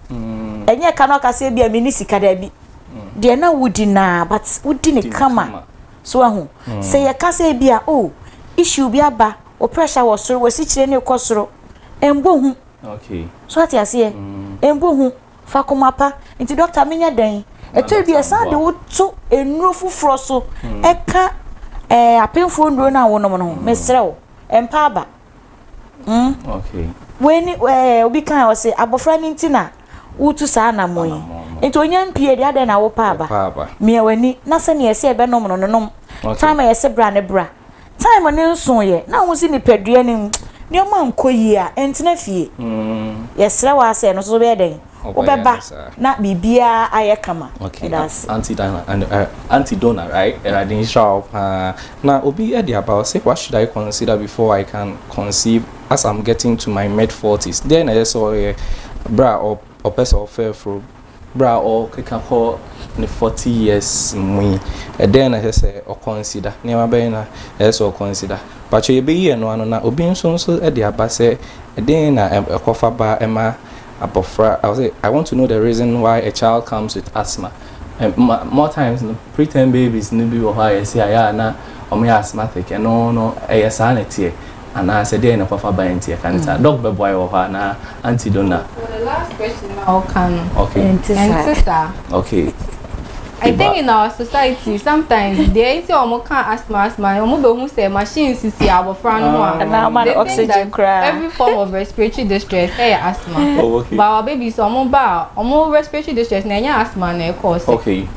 Hmm. Ɛnyɛ ka na ɔka sɛ bi a menni sika daabi. Hmm. Deɛ na wodi naa but wodi ne kama. So ahu? Sɛ yɛka sɛ bi a oh issue bi aba wo pressure wɔ soro wasikyire ne kɔ soro. Ɛmbɔ hu. Okay. So ate aseɛ? Ɛmbɔ hu. Fa koma pa. Nti dɔkta menyɛ dɛn? Ɛtɔ bi a ɛsan de wo to nnuro foforɔ so hmm. ɛka ɛɛ apemfoɔ nnuro no a wonom no ho. Hmm. Mesrɛ wo, ɛmpa aba. Hmm? Okay. Wei ni ɛɛ obi kan ɔse abɔfra no nti na wotu saa anamɔ yi. Nti onye mpie deɛ adɛn na wopa aba. Mia w'ani na sɛnea ɛsɛ ɛbɛnom no no nom. Time a yɛse bra ne bra. Time no nsoeɛ na wohu sɛ nipadua no mu nneɛma nkɔ yie a, ntena fie. Yɛsrɛ wo ara sɛ ɛno nso so wobɛyɛ dɛn? Wobɛba na biribiara ayɛ kama. Okay, Meda ase. Auntie Dana, and, uh, Auntie Donna, right? Awurade nhyira wo paa. Na obi de aba ɔse, what should I consider before I can conceive as I'm getting to my mid-forties? Dɛn na ɛsɛ sɛ ɔyɛ berɛ a ɔ- ɔpɛ sɛ ɔfa afuro Bere a ɔrekeka kɔ ne forty years mu yi, ɛdɛn na ɛsɛ sɛ ɔkɔnsida? Nneɛma bɛn na ɛsɛ sɛ ɔkɔnsida? Mpakyɛw, yebeyi ɛno ano, na obi nso nso de aba sɛ ɛdɛn na ɛkɔfa ba ma abofra, ɔse, I want to know the reason why a child comes with asthma. Ɛma, more times no, preterm babies no bi wɔ hɔ a yɛse ayɛ a na wɔyɛ asthmatic, ɛno no, ɛyɛ saa na ɛteɛ? anaa sɛ deɛn na kwafa ba nti ɛka ne saa dɔk bɛboa yɛ wɔ hɔ anaa anti dona. So the last question na ɔka no ɛnte saa. Okay. I think in our society sometimes deɛ nti a wɔn ka asthma asthma no wɔn bɛ hu sɛ machine sisi abɔfra no ho a. Ɛna ama no oxygen koraa. Every form of respiratory distress ɛyɛ eh, asthma. Oh okay. But our babies wɔn ba a wɔn respiratory distress na ɛnyɛ asthma na ɛkɔɔ sɛ. Okay.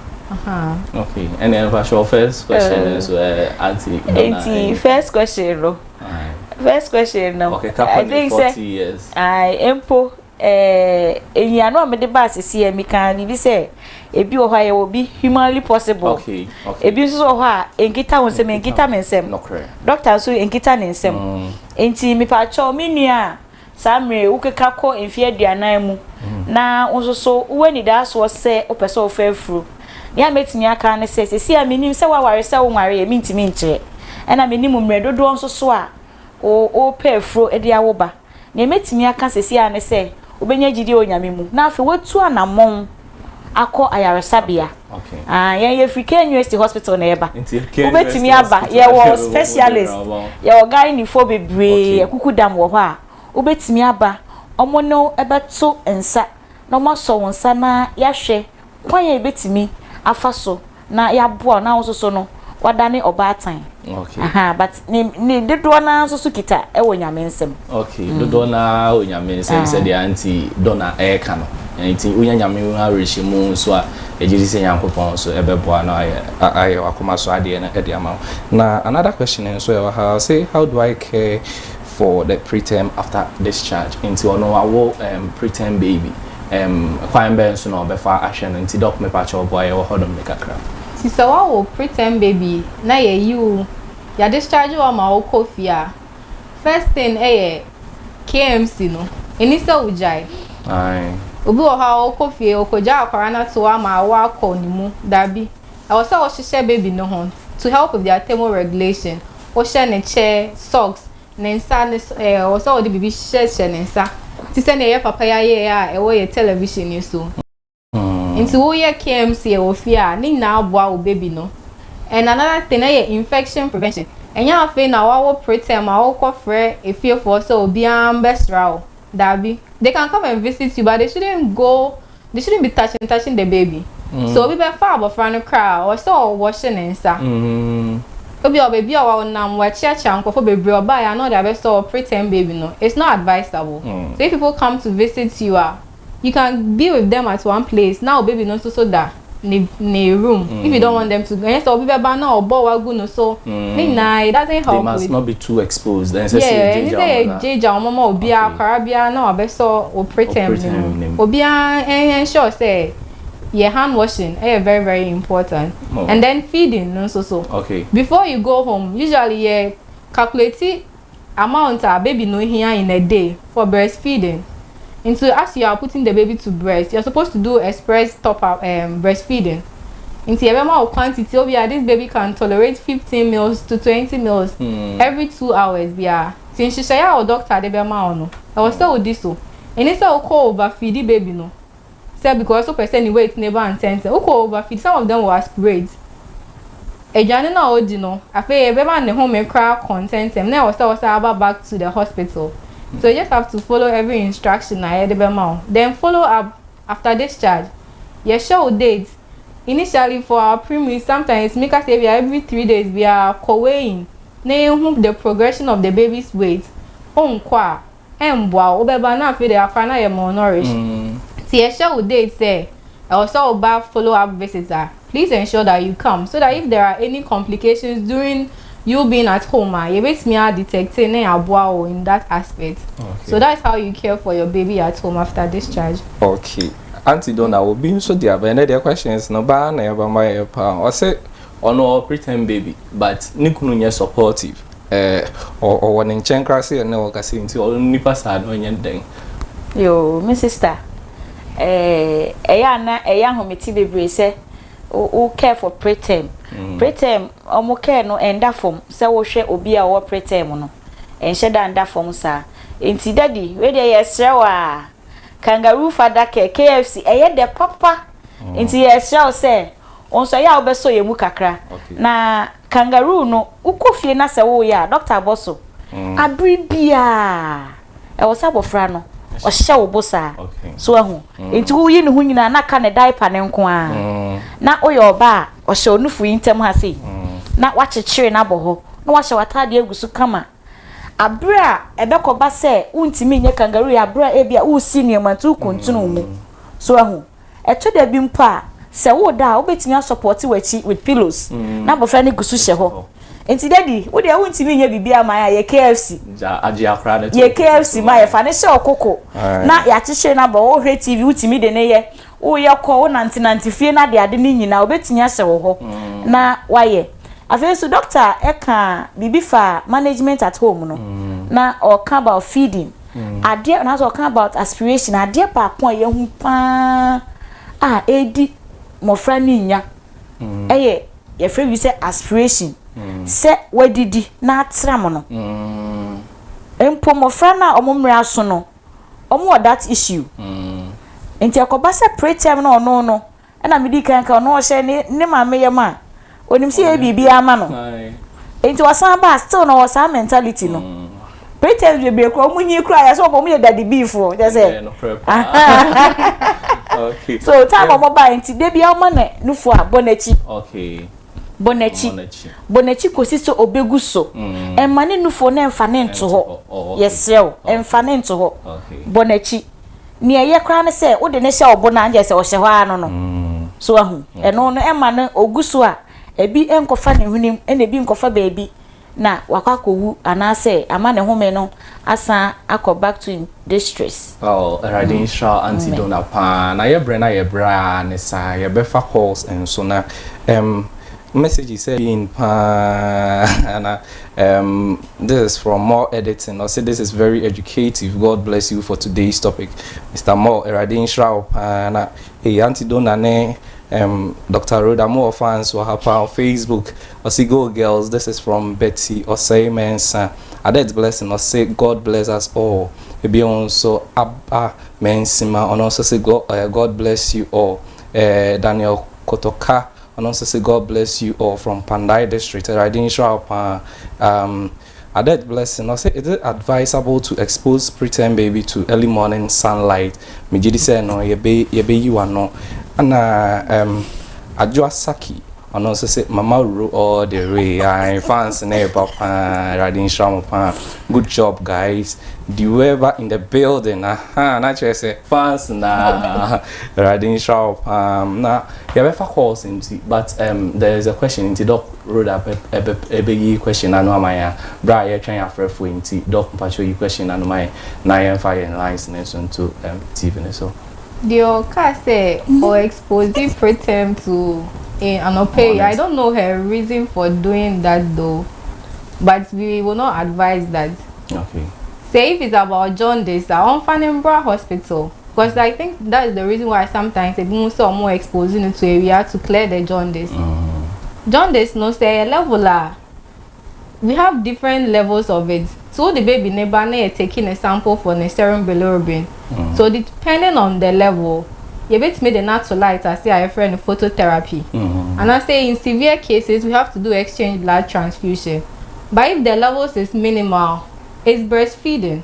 Okay, and then for your first question, uh, so uh, Auntie. Auntie, first question, no. First question, no. Okay, I think 40 say, years. I empo. Eh, eyi ano a mede ba asese yɛ mi kan bibi sɛ ebi wɔ hɔ a yɛwɔ bi humanly possible okay, okay. ebi nso wɔ hɔ a nkita wɔn nsɛm nkita mi nsɛm dɔkta nso nkita ne nsɛm mm. nti mipa kyɛw mi nua a Saa mmerɛ wokeka kɔ mfeɛ aduanan mu na wo nso so wowɔ anidaasoɔ sɛ wopɛ sɛ wofa afuro. Nea mɛtumi aka ara ne sɛ, seesei a menim sɛ woaware sɛ wonwareeɛ, mentumi nkyerɛ. Ɛna menim mmerɛ dodoɔ nso so a wopɛ afuro de awo ba. Nea mɛtumi aka seesei ara ne sɛ wobɛnya gyidie wɔ Nyame mu na afei woatu anammɔn akɔ ayaresabea. Okay. Ah, yɛn yɛ free KNUST hospital na yɛba. Nti KNUST Wobɛtumi aba. Yɛwɔ specialist. Yɛwɔ gynaefo bebree. Akuku dam wɔ hɔ a. Wobɛtumi aba. Wɔn ne wo bɛto nsa na wɔasɔ wo nsa na yɛahwɛ kwan a yɛbɛtumi afa so na yɛaboa wo na wo nso so no woadane ɔbaatan okay aha but ne ne dodoɔ naa nso so kita ɛwɔ nyame nsɛm okay mm. dodoɔ naa wɔ nyame nsɛm ah. sɛdeɛ anti dɔna ɛɛka no nti wonya nyame ho awerɛhyɛ mu nso a ɛgye di sɛ nyankopɔn nso ɛbɛboa no ayɛ ayɛ wakoma so adeɛ no ɛde ama wo na another question nso ɛwɔ ha say how do i care for the preterm after discharge nti ɔno wawo um, preterm baby um, kwan bɛn so na ɔbɛfa ahwɛ no nti dɔk mepa kyɛw boa yɛwɔ hɔnom ne kakra. Nti sɛ wawo preterm baby na yɛyi wo yɛ discharge wo ama wo kɔ fie a first thing ɛyɛ KMC no ɛni sɛ wo gyae. Ae. Obi wɔ hɔ a ɔkɔ fie ɔkɔ gya akwaraa no ato hɔ ama awo akɔ ne mu, dabi. Ɛwɔ sɛ wo hyehyɛ baby no ho to help with their thermo regulation, wo hyɛ ne kyɛ, socks, ne nsa ne so ɛɛ ɛwɔ sɛ wɔde biribi hyɛ hyɛ ne nsa te sɛ nea yɛ papa yi ayɛ a ɛwɔ yɛ television yi so. Nti wo yɛ KMC ɛwɔ fie a ne nyinaa aboa wo baby no. And another thing ɛyɛ infection prevention ɛnyɛ afei na wawo preterm a wo kɔ frɛ efiefoɔ sɛ obiara mbɛsra wo. Dabi. They can come and visit you but they shouldn't go, they shouldn't be touching, touching the baby. Sɛ obi bɛfa abɔfra no koraa a, ɔsɛ sɛ ɔwɔhye ne nsa. Ebia ɔwɔ baabi a ɔnam, wakyiakyia nkurɔfo bebree, ɔbaeɛ a na ɔde abɛsɔ wo preterm baby no. It's not advisable. So if people come to visit you a, you can be with them at one place na wo baby no nso so da. ne ne room mm. if you don't want them to ɛnyɛ sɛ obi bɛba na ɔbɔ wa gu no so mm. ne nyinaa it doesn't help they must with, not be too exposed ɛnsɛ sɛ yɛ gyegya wɔn yɛ gyegya wɔn ma obiara akwara biara na wabɛsɔ wɔ pretem ne mu obiara ɛnhyɛ sɛ yɛ hand washing ɛyɛ very very important oh. and then feeding no nso so okay before you go home usually yɛ calculate amount a baby no hia in a day for breast feeding nti as you are putting the baby to breast you are supposed to do express top up um, breast feeding nti yɛbɛma wo quantity obi a this baby can tolerate fifteen meals to twenty meals mm. every two hours biara ti nhyehyɛeɛ a wo doctor de bɛma wo no ɛwɔ sɛ wodi so ɛne sɛ wokɔ overfeedi baby no sɛ because wopɛ sɛ ne weight no ba ntɛntɛm wokɔ over feed some of them will aspirate aduane no a ɔdi no afei ɛbɛma ne home koraa kɔ ntɛntɛm na ɛwɔ sɛ wɔsan aba back to the hospital so you just have to follow every instruction a yɛde bɛma wo then follow up after discharge yɛhyɛ wo date initially for our primary sometimes yɛtumi ka sɛ ebia every three days biara kɔ weighing na yɛhu the progression of the baby's weight onkɔ a Ɛmboa wo, wobɛba na afei de akora no ayɛ more nourished. Nti yɛhyɛ wo date sɛ ɛwɔ sɛ woba follow up visit a, please ensure that you come so that if there are any complications during you being at home a, yɛbɛtumi a detecte na yɛaboa wo in that aspect. So that is how you care for your baby at home after discharge. Okay. Auntie Donna, obi nso de aba, ɛnɛ deɛ questions no baa na yɛbɛma yɛ paa. Ɔse ɔno ɔwɔ preterm baby but ne kunu nyɛ supportive. Eh ɔwɔ ne nkyɛn koraa sɛ ɛnɛ wɔ kasa nti ɔno nipa saa no ɔnyɛ ne dɛn. Yoo me sista eh ɛyɛ a na ɛyɛ ahomete bebree sɛ wo care for preterm mm. preterm ɔmo care no ɛnda fam sɛ wohwɛ obi a ɔwɔ preterm no ɛnhyɛ da nda fam saa nti dadi wei deɛ yɛsrɛ wo a kangaroo fada care KFC ɛyɛ dɛ papa mm. nti yɛsrɛ wo sɛ Wo nso ɛyɛ a wo bɛsɔ yɛn mu kakra. Na kangaroo no wo kɔ fie na sɛ wo yɛ a doctor abɔ so abere biaa ɛwɔ sɛ abɔfra no ɔhyɛ wo bo saa so ahu nti wo yi ne ho nyinaa na ka ne diaper no nko a na wo yɛ ɔba a ɔhyɛ onufo yi ntɛm ha sei na wakyekyere no abɔ hɔ na wahyɛ w'atadeɛ agu so kama. Bere a ɛbɛkɔba sɛ wuntumi nyɛ kangaroo yɛ bere a ebia woresi nneɛma nti wokuntunu wo mu. So ahu? Ɛtɔ da bi mpo a, sɛ woreda a, wobetumi asɔpɔte w'akyi with pillows, na abofra no gu so hyɛ hɔ. Enti Daddy, wo deɛ wuntumi nyɛ biribiara mma yɛn a, yɛ KFC. Yɛ KFC ma yɛn. Fa no hyɛ wo koko na yɛakyekyere no abɔ hɔ. Wohwɛ TV, wutumi de no yɛ. Woyɛ kɔ, wonantenante fie no adeade no nyinaa, wɔbɛtumi ahyɛ wo hɔ na woayɛ. Afei nso, dɔkta ka biribi fa management at home no, na ɔka about feeding. Adeɛ, anaasɛ ɔka about aspiration, adeɛ baako a yɛahu paa a ɛredi mmɔfra no nya ɛyɛ yɛfrɛ bi sɛ aspiration, sɛ wadidi na atram no. Mpo mmɔfra no a wɔn mmerɛ aso no, ɔmo wɔ that issue nti ɛkɔba sɛ preterm no ɔno no ɛna medi kan ka ɔno ɔhyɛ ne ne maame yam a onim sɛ yɛyɛ biribi ama no nti ɔsan ba still na ɔwɔ saa mentality no preterms bebree kura ɔmo nyi kura yɛ sɛ ɔmo yɛ daddy bee foɔ kyɛ sɛ so time ɔmo ba nti debia ɔma ne nufo a bɔ n'akyi. bɔ n'akyi, bɔ n'akyi kɔsi sɛ ɔbɛgu so. Mma ne nufoɔ no mfa no nto hɔ. Yɛsrɛ wo, mfa no nto hɔ. Bɔ n'akyi. Nea ɛyɛ koraa ne sɛ, wode no hyɛ wo bo no a, ɛnkyerɛ sɛ ɔhyɛ hɔ ara no no. So wahu? Ɛno no, ɛmma no ɔgu so a, ebi nkɔfa ne hwenem, ɛnna ebi nkɔfa baabi. na wakɔ akɔwu anaasɛ ama ne home no asan akɔ back to im distress. Oh Awurade nhyira wo Auntie Donna paa na yɛ brɛ na yɛ brɛ aa ne saa yɛ bɛ fa calls nso na um messages sɛ in paa na um this is from more editing ɔse this is very educative God bless you for today's topic Mister Moore Awurade nhyira wo paa na Hey Auntie Donna ne um, Doctor Rhoda mo wɔ fans wɔ ha paa wɔ Facebook ɔse go girls this is from Betty Ɔsɛe Mɛnsa Adet Blessing ɔse God bless us all ebio nso Abba Mɛnsima ɔno nso se go, uh, God bless you all uh, Daniel Kotoka ɔno nso se God bless you all from Pandai district Awurade nhyira wo paa um, Adet Blessing ɔse is it advisable to expose preterm baby to early morning sunlight megyedi sɛ no yɛbɛyi wano ɛna um, Adwoa Saki ɔno nso se mama wuro all the way ae fans ne ɛba paa awurade nhyira mo paa good job guys Diweba in the building aha na kyerɛ sɛ fans na awurade nhyira wo paa na yɛbɛfa calls nti but um, there is a question nti dɔk Rhoda pɛ ɛbɛ ɛbɛ yi question n'ano ama yɛn a bere a yɛtwɛn afrɛfo yi nti Doc mpakyɛw yi question n'ano ma yɛn na yɛn fa yɛn lines no nso nto ɛm TV no so. Deɛ ɔkaa sɛ ɔ expose preterm to e anɔpa yi I don't know her reason for doing that though but we will not advise that. Okay. Sɛ if it's about jaundice a ɔnfa no mbra hospital. Cos I think that is the reason why sometimes ebi mo sɛ ɔmo expose no to awia to clear the jaundice. Jaundice no sɛ ɛyɛ level a we have different levels of it nti wo de baby no ba na yɛ take ne sample for ne serum bilirubin so depending on the level yɛ bɛtumi de no ato light ase a yɛfrɛ no phototherapy anaa sɛ in severe cases we have to do exchange blood transfusion but if the levels is minimal it's breastfeeding.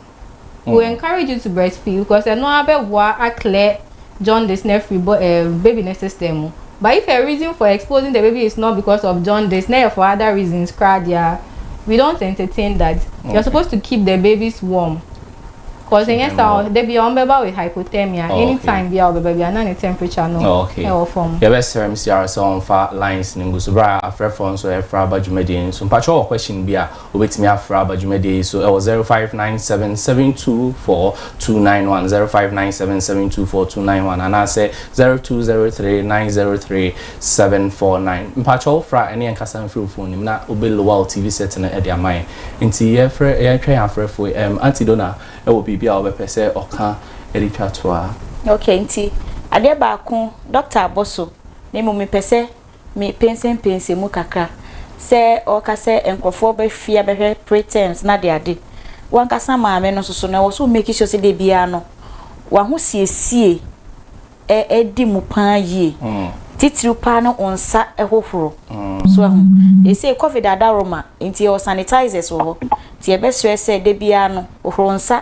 we will encourage you to breastfeed because ɛno ara bɛboa a clear jaundice no afiri bɔ ɛɛ baby no system mu but if her reason for exposing the baby is not because of jaundice na ɛyɛ for other reasons koraa deɛ a we don't entertain that you are supposed to keep the babies warm cause ɛnyɛ saa ɔ da bi a wɔn bɛba with hypothermia Oh, okay. anytime bi a wɔbɛba bi a na ne temperature no Oh, okay. ɛwɔ fam. yɛbɛsrɛ mcr sɛ ɔmfa lines no ngu so berɛ a afrɛfoɔ nso ɛfra aba dwumadie no so mpakyɛ wɔ question bi a Wobɛtumi afrɛ aba dwumadie yi so wɔ 0597724291, 0597724291, anaasɛ 0203903749. Mpakyɛ wo frɛ a ɛne yɛn kasa mfiri wo fon no mu na wobɛ lower wo TV set no de ama yɛn. Nti yɛfrɛ yɛhwɛ yɛn afrɛfoɔ yi. Ɛm Auntie Dona wɔ biribi a ɔbɛpɛ sɛ ɔka de twa toa. Okay nti adeɛ baako Doctor Aboso me mmom mepɛ sɛ. Me pensenpensen mu kakra sɛ ɔreka sɛ nkurɔfoɔ ba fie abɛhwɛ pretends no adeade. W'ankasa maame no nso so no, ɛwɔ sɛ wo make sure sɛ da biara no w'ahosiesie ɛ di mu pa ara yie. Titiriw pa ara no wo nsa hohoro. So ahu? Seesei covid adaworoma nti yɛwɔ sanitizers wɔ hɔ nti yɛbɛsrɛ sɛ da biara no hohoro nsa.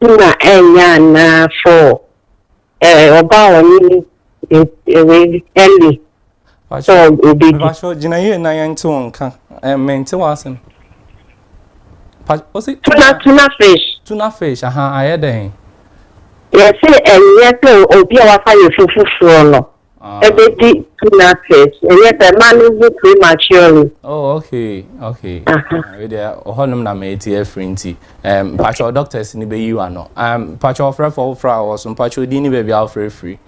Nna ennya anaa for eh ɔba a ɔnye ne eh wei Ellie sɛ obedi. Mpacho gyina yie na yɛn nte wo nka eh me nte w'asem pa ose tuna tuna fish tuna fish ahaa ayɛ dɛn. Yɛse ɛnyɛ sɛ obi a wafa yɛ fufufuo no ɛbɛdi two nurses ɛnyɛ sɛ ma no wu prematurely. oh okay okay ɛwɛ deɛ ɔhɔ nom na mɛ ti afiri nti ɛm mpatsɔ doctors ni bɛ yi wa no ɛm mpatsɔ ɔfrɛ fɔ ɔfrɛ awɔ so mpatsɔ din ni baabi a ɔfrɛ firi.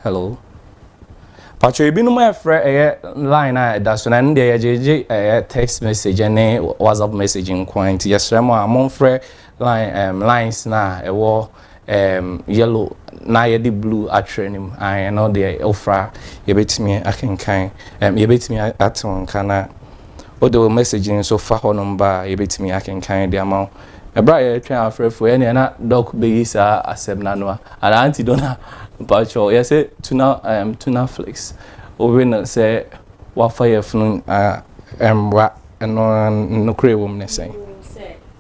hello patro ebinom ɛfrɛ ɛyɛ line a ɛda so na ɛno deɛ yɛgyegye ɛyɛ text message ne whatsapp message nko nti yɛsrɛ mu a momfrɛ Line ɛɛm lines no a ɛwɔ ɛɛm yellow na yɛde blue atwerɛ no mu ae ɛno deɛ wofra yɛbɛtumi akenkan ɛɛm yɛbɛtumi ate wo nka na wode wo message nso fa hɔnom ba a yɛbɛtumi akenkan de ama wo. Ɛberɛ a yɛretwɛn afrɛfoɔ ɛneɛ na Doc bɛyi saa asɛm no ano a anaa Auntie Donna mpakyɛw yɛse tuna ɛɛm tuna flakes wowe no sɛ wafa yafunu a ɛɛm wa ɛno nokorɛ wɔ mu ne sɛn?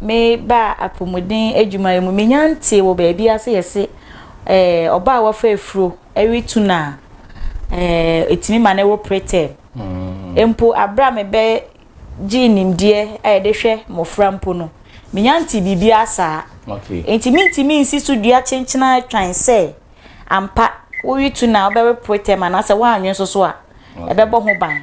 Me baa apomuden adwumayɛ mu. Menya ntee wɔ baabi a sɛ yɛse eh, ɔba a wafa afuro retu no a, eh, ɛtumi ma no wɔ preterm. Mm. Mpo aberɛ a mebɛ gyee nimdeɛ a yɛde hwɛ mmɔfra mpo no, menya ntee biribiara saa. Okay. Enti mentumi nsi so dua kyenkyena twan sɛ ampa woretu no a wobɛwe preterm anaasɛ woanwe nso so a ɛbɛbɔ ho ban.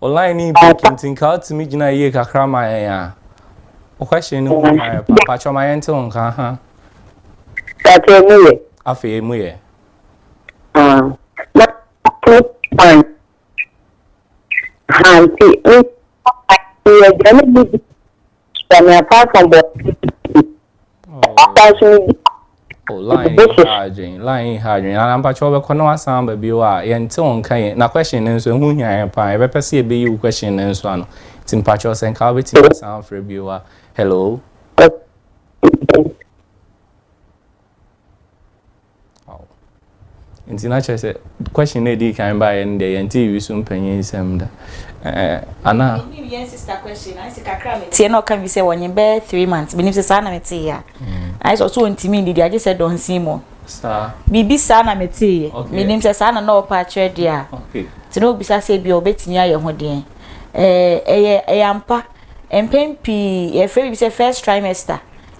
Online breaking nti nka wotumi gyina yie kakra ma yɛn a. Wo question no mu ayɛ pa. Patwɔ ma yɛnte wo nka ha. Patwɔ mu yɛ. Afei mu yɛ. Na to pan. Ha nti. Yɛ gya ne bi. Kwame Asankwa bɔɔ asan so no bi. Oh, line yi ha adwene, line yi ha adwene. Nana mpakyɛ wɔbɛkɔ na wasan aba bio a yɛnte wɔn nka yɛn. Na question no nso ɛho hia yɛn paa. Yɛbɛpɛ sɛ yɛbɛyi wo question no nso ano. Nti mpakyɛ sɛ nka wobɛtumi asan afrɛ bio a. Hello? Wow. Nti na kyerɛ sɛ question na edi kan baeɛ no deɛ yɛnte Wisu mpanyin nsɛm da. Ɛɛ ana? Menim yɛn sista question na sɛ kakra me tie na ɔka bi sɛ wɔnye bɛyɛ three months. Menim sɛ saa na metee ya. Ayɛ sɛ ɔso ɔntumi ndidi agye sɛ dɔnsin mu. Saa. Biribi saa na metee yɛ. Menim sɛ saa na na ɔpɛ akyerɛ deɛ a. Okay. Nti na obisa sɛ bi a ɔbɛtumi ayɛ ho deɛ. Ɛɛ ɛyɛ ɛyɛ ampa. Mpɛn pii yɛfrɛ biribi sɛ first trimester.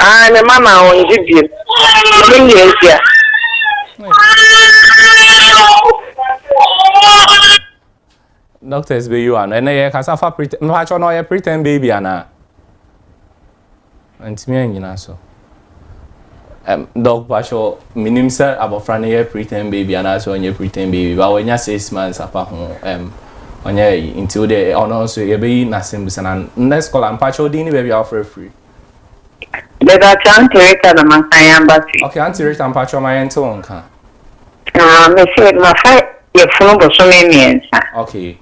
Aane me mma maa wɔn gyidie no ne deɛ nti a. Doctors bɛ yiwa no ɛnɛ yɛ kasa fa pretend mpatsɔ na ɔyɛ pretend baby ana ntumi anyina so ɛm dɔk mpatsɔ minim sɛ abɔfra no yɛ pretend baby ana sɛ ɔnyɛ pretend baby ba wɔnya six months apa ho ɛm ɔnyɛ yi nti o deɛ ɔno nso yɛbɛyi n'asɛm bisa na next caller mpatsɔ din ne baabi a wɔfrɛ firi. Mepakyɛ Aunty Rita na masan yɛ aba fie. Okay Aunty Rita mpakyɛ ma yɛnte wo nka. Ah mese mafa yafunu bosome mmiɛnsa. Okay.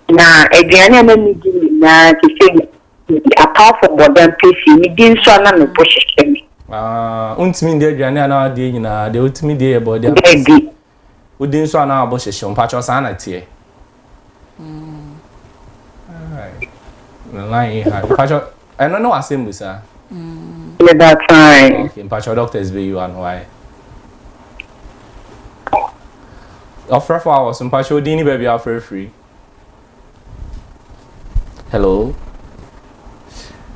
Na aduane a na medi nyinaa te sɛ apart from bɔda mpesi medi nso a na me bo hyehyɛ me. Ah wontumi ndi aduane a na wadie nyinaa deɛ wotumi die yɛ bɔda mpesi. Dabi Wo din so anaa ɔbo hyehyew mpakyɛw saa na teɛ. Line yi ha mpakyɛw ɛno ne w'asɛm bu saa. Meda try. Okay mpakyɛw doctors bɛ yi wa no wayɛ. Ɔfrɛfo awɔ so mpakyɛw din ni baabi a ɔfrɛ firi. hello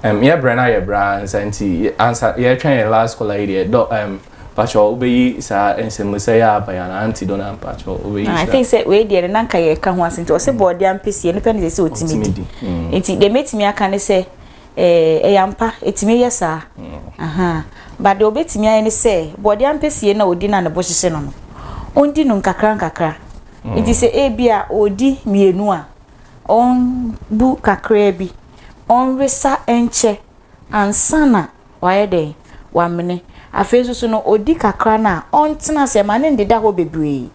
um, yɛ brɛ na yɛ brɛ ansa nti ansa yɛtwɛn yɛ last caller yi deɛ dɔ um, pakyɛ wobɛyi saa nsɛmmusɛ yɛ aba yɛ anaa nti dɔ na mpakyɛ wobɛyi saa i think sɛ wei deɛ no na nka yɛka ho ase nti ɔse mm. bɔɔde ampɛsie no pɛ ne sɛ sɛ ɔtumi di mm. nti deɛ mɛtumi aka ne sɛ eh, ɛyɛ ampa ɛtumi yɛ saa mm. ba deɛ ɔbɛtumi ayɛ ne sɛ bɔɔde ampɛsie no a ɔdi no a ne bo hyehye no no ɔndi no nkakra nkakra Enti sɛ ebia ɔredi mmienu a, ɔmmu kakraa bi, ɔnwesa nkyɛ ansa na wayɛ dɛn? Wamene. Afei nso so no, ɔdi kakra no a, ɔntena ase, ɛma no nneda hɔ bebree.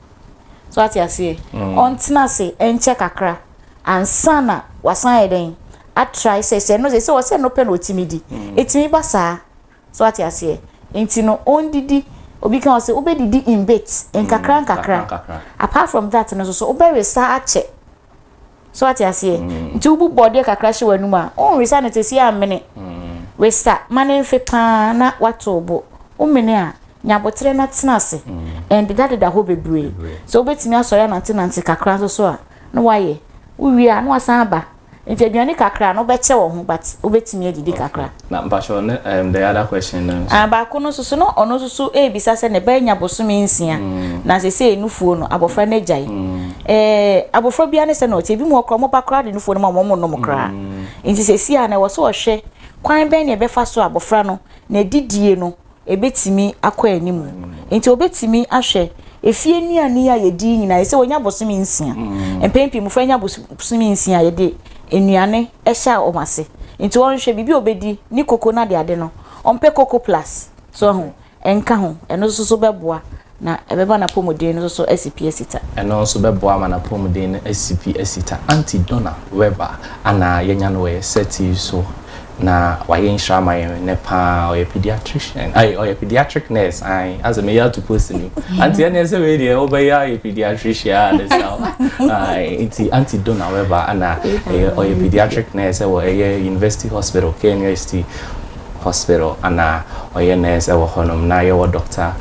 So wate aseɛ? Ɔntena ase nkyɛ kakra ansa na wasan ayɛ dɛn? Atrae sɛ sɛ ɛno deɛ, ɛsɛ sɛ ɔsɛ ɛno pɛ na ɔtumi di. Ɛtumi ba saa. So wate aseɛ? Nti no ɔndidi, obi ka ɔse wobɛdidi in bits, nkakra nkakra, apart from that no nsoso wobɛwesa akyɛ. So wate aseɛ? Nti wobu bɔdeɛ kakra hyɛ w'anum a, wonwesa no tese ammene. Wesa ma no mfe paa na woato wo bo. Womene a, nya aboterɛ na tena ase, ndeda deda hɔ bebree. Sɛ wobɛtumi asɔre anante nante kakra nsoso a, na woayɛ. Wowie a, na woasan aba. Nti aduane kakra no wobɛkyɛ wɔ ho but wobɛtumi adidi kakra. Okay na mpakyɛw ne ɛɛm the other question no nso. Ah baako no nso so no ɔno nso so ɛɛbisa sɛ ne ba anya bosome nsia na sesei nufuo no abɔfra no agyae. Ɛɛ abɔfra biara ne sɛ na ɔteɛ ebi mu hɔ koraa wɔn ba koraa de nufuo no ma wɔn wɔn nnom koraa nti sesei a na ɛwɔ sɛ ɔhwɛ kwan bɛn na ɛbɛfa so a abɔfra no nadidie no Ebetumi akɔ anim. Enti obetumi ahwɛ efie nnuane a yedi yi nyinaa. Sɛ onya bosome nsia. Mpɛn pii mmofra nya bosome nsia a yɛde nnuane hyɛ wɔn ase. Enti ɔnhwɛ biribi a obedi, ne koko no adeade no, ɔmpɛ koko plus. So ahu? Nka ho. Ɛno nso so bɛboa Na ɛbɛma n'apɔmuden no nso so asi pi asi ta. Ɛno nso bɛboa ama n'apɔmuden no asi pi asi ta. Auntie Donna Weber a na yɛanya no wɔ yɛn settee so na wayɛ nhyira ama yɛn nnɛ pa ara. Ɔyɛ pediatrician, ai, ɔyɛ pediatric nurse, ae, asɛ meyɛ ato post no mu. Auntie ɛnneɛ sɛ wei deɛ wobɛyɛ ayɛ pediatrician a ne sa wo. Ae, nti Auntie Donna Weber a na ɛyɛ, ɔyɛ pediatric nurse wɔ ɛyɛ University Hospital, KNUST, Hospital na ɔyɛ nurse wɔ hɔnom na yɛwɔ Doctor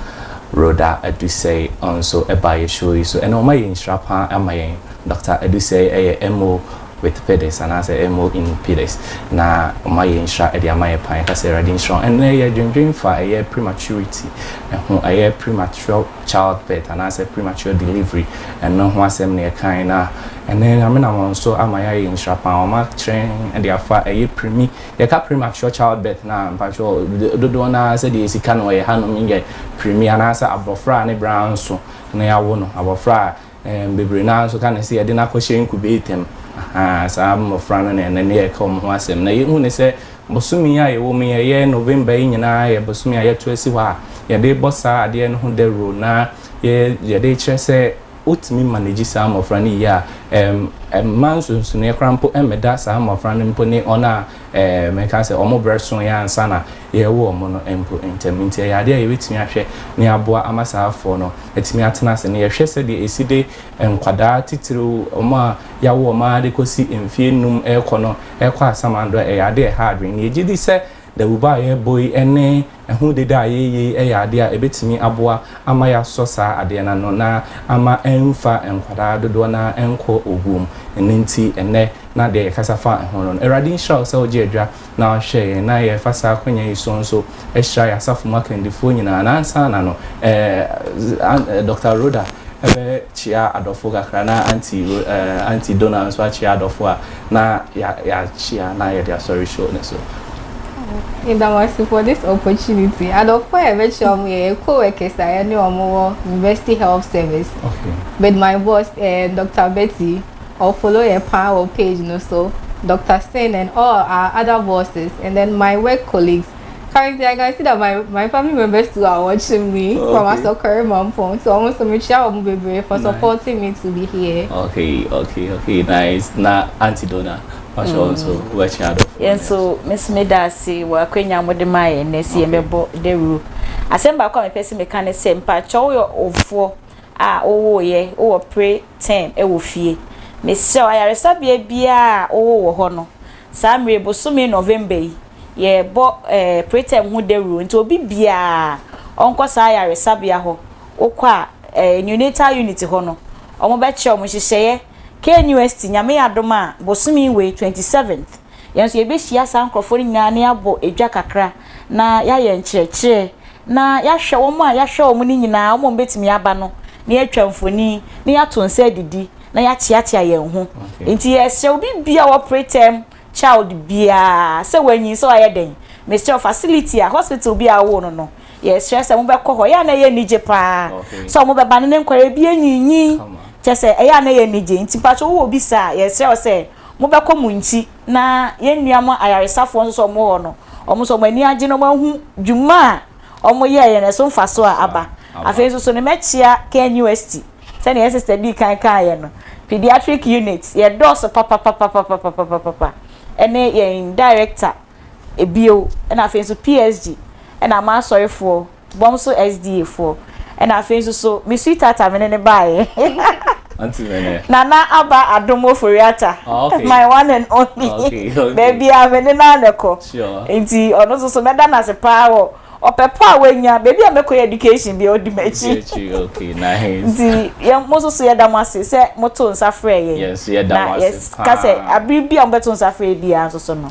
Rhoda Adusei ɔnso ba yɛ show yi so ɛna ɔma yɛ nhyira paa ama yɛn. Doctor Adusei yɛ MO with Pidis anaasɛ MO in Pidis na ɔma yɛ nhyira de ama yɛ paa yɛka sɛ Awurade nhyira wo. Ɛnɛ yɛ dwendwen fa ɛyɛ prematurity ɛho ɛyɛ premature child birth anaasɛ premature delivery ɛno ho asɛm na yɛkae na ɛnɛ Nyame nam ɔnso ama yɛ ayɛ nhyira paa ɔma kyerɛn de afa ɛyɛ premi Yɛka premature childbirth no a, mpakyɛw, dodoɔ no ara sɛdeɛ yɛsi ka no wɔ yɛn hanom yi yɛ premi anaasɛ abɔfra a ne berɛ anso na yɛawo no, abɔfra a bebree no ara nso ka no sɛ yɛde no akɔhyɛ incubator mu, ahaa, saa mmɔfra no na ɛnnɛ no yɛreka wɔn ho asɛm. Na yɛhu no sɛ bosome yi a yɛwɔ mu yi, ɛyɛ November yi nyinaa yɛ bosome a yɛato asi hɔ a yɛde rebɔ saa adeɛ no ho dawuro na yɛde rekyerɛ sɛ Wotumi manage saa mmɔfra no yie a, ɛmma nsonsonoeɛ koraa mpo mmɛda saa mmɔfra no mpo ne wɔn a mɛka sɛ wɔn berɛ soeɛ ansa na yɛrewo wɔn no mpo ntam. Nti ɛyɛ adeɛ a yɛbɛtumi ahwɛ ne aboa ama saa afoɔ no atumi atena ase no. Yɛhwɛ sɛdeɛ ɛsi de nkwadaa titiriw, wɔn a yɛawo wɔn ara de kɔsi mfeɛ nnum rekɔ no kɔ asamando a, ɛyɛ adeɛ a ɛha adwene. Na yɛgye di sɛ Dawuba a yɛrebɔ yi ne ɛho dede a yɛreyɛ yi yɛ adeɛ a ɛbɛtumi aboa ama yɛasɔ saa adeɛ no ano na ama ɛmfa nkwadaa dodoɔ no ara nkɔ owuo mu. Ɛno nti ɛnnɛ na deɛ yɛkasa fa ho no no. Awurade nhyira wo sɛ wogye adwa na woahwɛ yɛn na yɛfa saa akwanya yi so nso hyira yɛn asafo mu akandifoɔ nyinaa. Na ansa na no eh, Doctor Rhoda bɛkyea adɔfoɔ kakra na Auntie, eh, Auntie Donna nso akyea adɔfoɔ a na yɛakyea na yɛde asɔre show no so. Meda mo ase for this opportunity. Adɔfo a yɛbɛkyerɛ wɔn yɛ yɛn co-workers a yɛne wɔn wɔ University Health Service. Okay. With my boss, uh, eh, Dr. Betty, or follow yɛ paa wɔ page no so, Dr. Sin and all our other bosses, and then my work colleagues. currently I can see that my my family members too are watching me okay. from Asokore Mampong. So almost me share omu bebre for nice. supporting me to be here. Okay, okay, okay, nice. Na Auntie Donna, what's mm. also watching out for? Yeah, so Miss Medasi, wa kwenya mo de mai na si me bo de ru. Asem ba kwa me pese me kan se mpa chowo yo ofo a owo ye, owo pre term e wo fie. Me se ayaresabia bia owo wo ho no. Saa mmerɛ yi, bosome November yi, yɛrebɔ eh, preterm ho dawuro nti obi biara ɔnkɔ saa ayaresabea hɔ. Wokɔ a, eh, neonatal unit hɔ no, wɔbɛkyerɛ wɔn nhyehyɛeɛ. KNUST, Nyame adom a, bosome wei, 27th, yɛn nso yɛbɛhyia saa nkorɔfoɔ no nyinaa na yɛabɔ dwa kakra na yɛayɛ nkyerɛkyerɛ na yɛahwɛ wɔn a yɛahwɛ wɔn no nyinaa, wɔn a wɔbɛtumi aba no, na yɛatwa mfoni na yɛato nsa adidi. na yɛakyeakyea yɛn ho. Enti yɛsrɛ obi bia wɔ preterm child biara sɛ wanyin sɛ wayɛ dɛn? Mesrɛ facility a hospital bi a wowɔ no no, yɛsrɛ sɛ mobɛkɔ hɔ. Ɛyɛ a na ɛyɛ anigye paa sɛ wɔbɛba ne ne nkwadaa bi anyinyin. Kyɛ sɛ ɛyɛ a na ɛyɛ anigye. Nti mpakyɛ wowɔ obi saa a, yɛsrɛ wo sɛ mobɛkɔ mo nkyi na yɛn nua mo ayaresafoɔ nso sɛ wɔwɔ hɔ no, wɔn nso wɔn ani agye na wɔahu dwuma a wɔn yɛɛ yɛ no ɛso mfasoɔ a aba. Afei nso so no mɛkyea KNUST sɛdeɛ yɛ sister dii kan kaeɛ no pediatric unit yɛ dɔɔso papapapapapapapapa ɛne yɛn director bio ɛna afei nso PSG ɛna m'asɔrefoɔ bɔmso SDA foɔ. ɛna afei nso so me sweetheart a me ne no baeɛ Nana Aba Adom Oforiata oh, okay. my one and only oh, okay, okay. baabi a me ne no a na ɛkɔ nti ɔno nso so mɛda no ase paa wɔ ɔpɛ pa a wanya baabi a mɛkɔ yɛ education bi a ɔdi m'akyi nti yɛ mo nso so yɛda mo ase sɛ moto nsa frɛ yɛn na yɛka sɛ abere bi a mobɛto nsa frɛ biara nso so no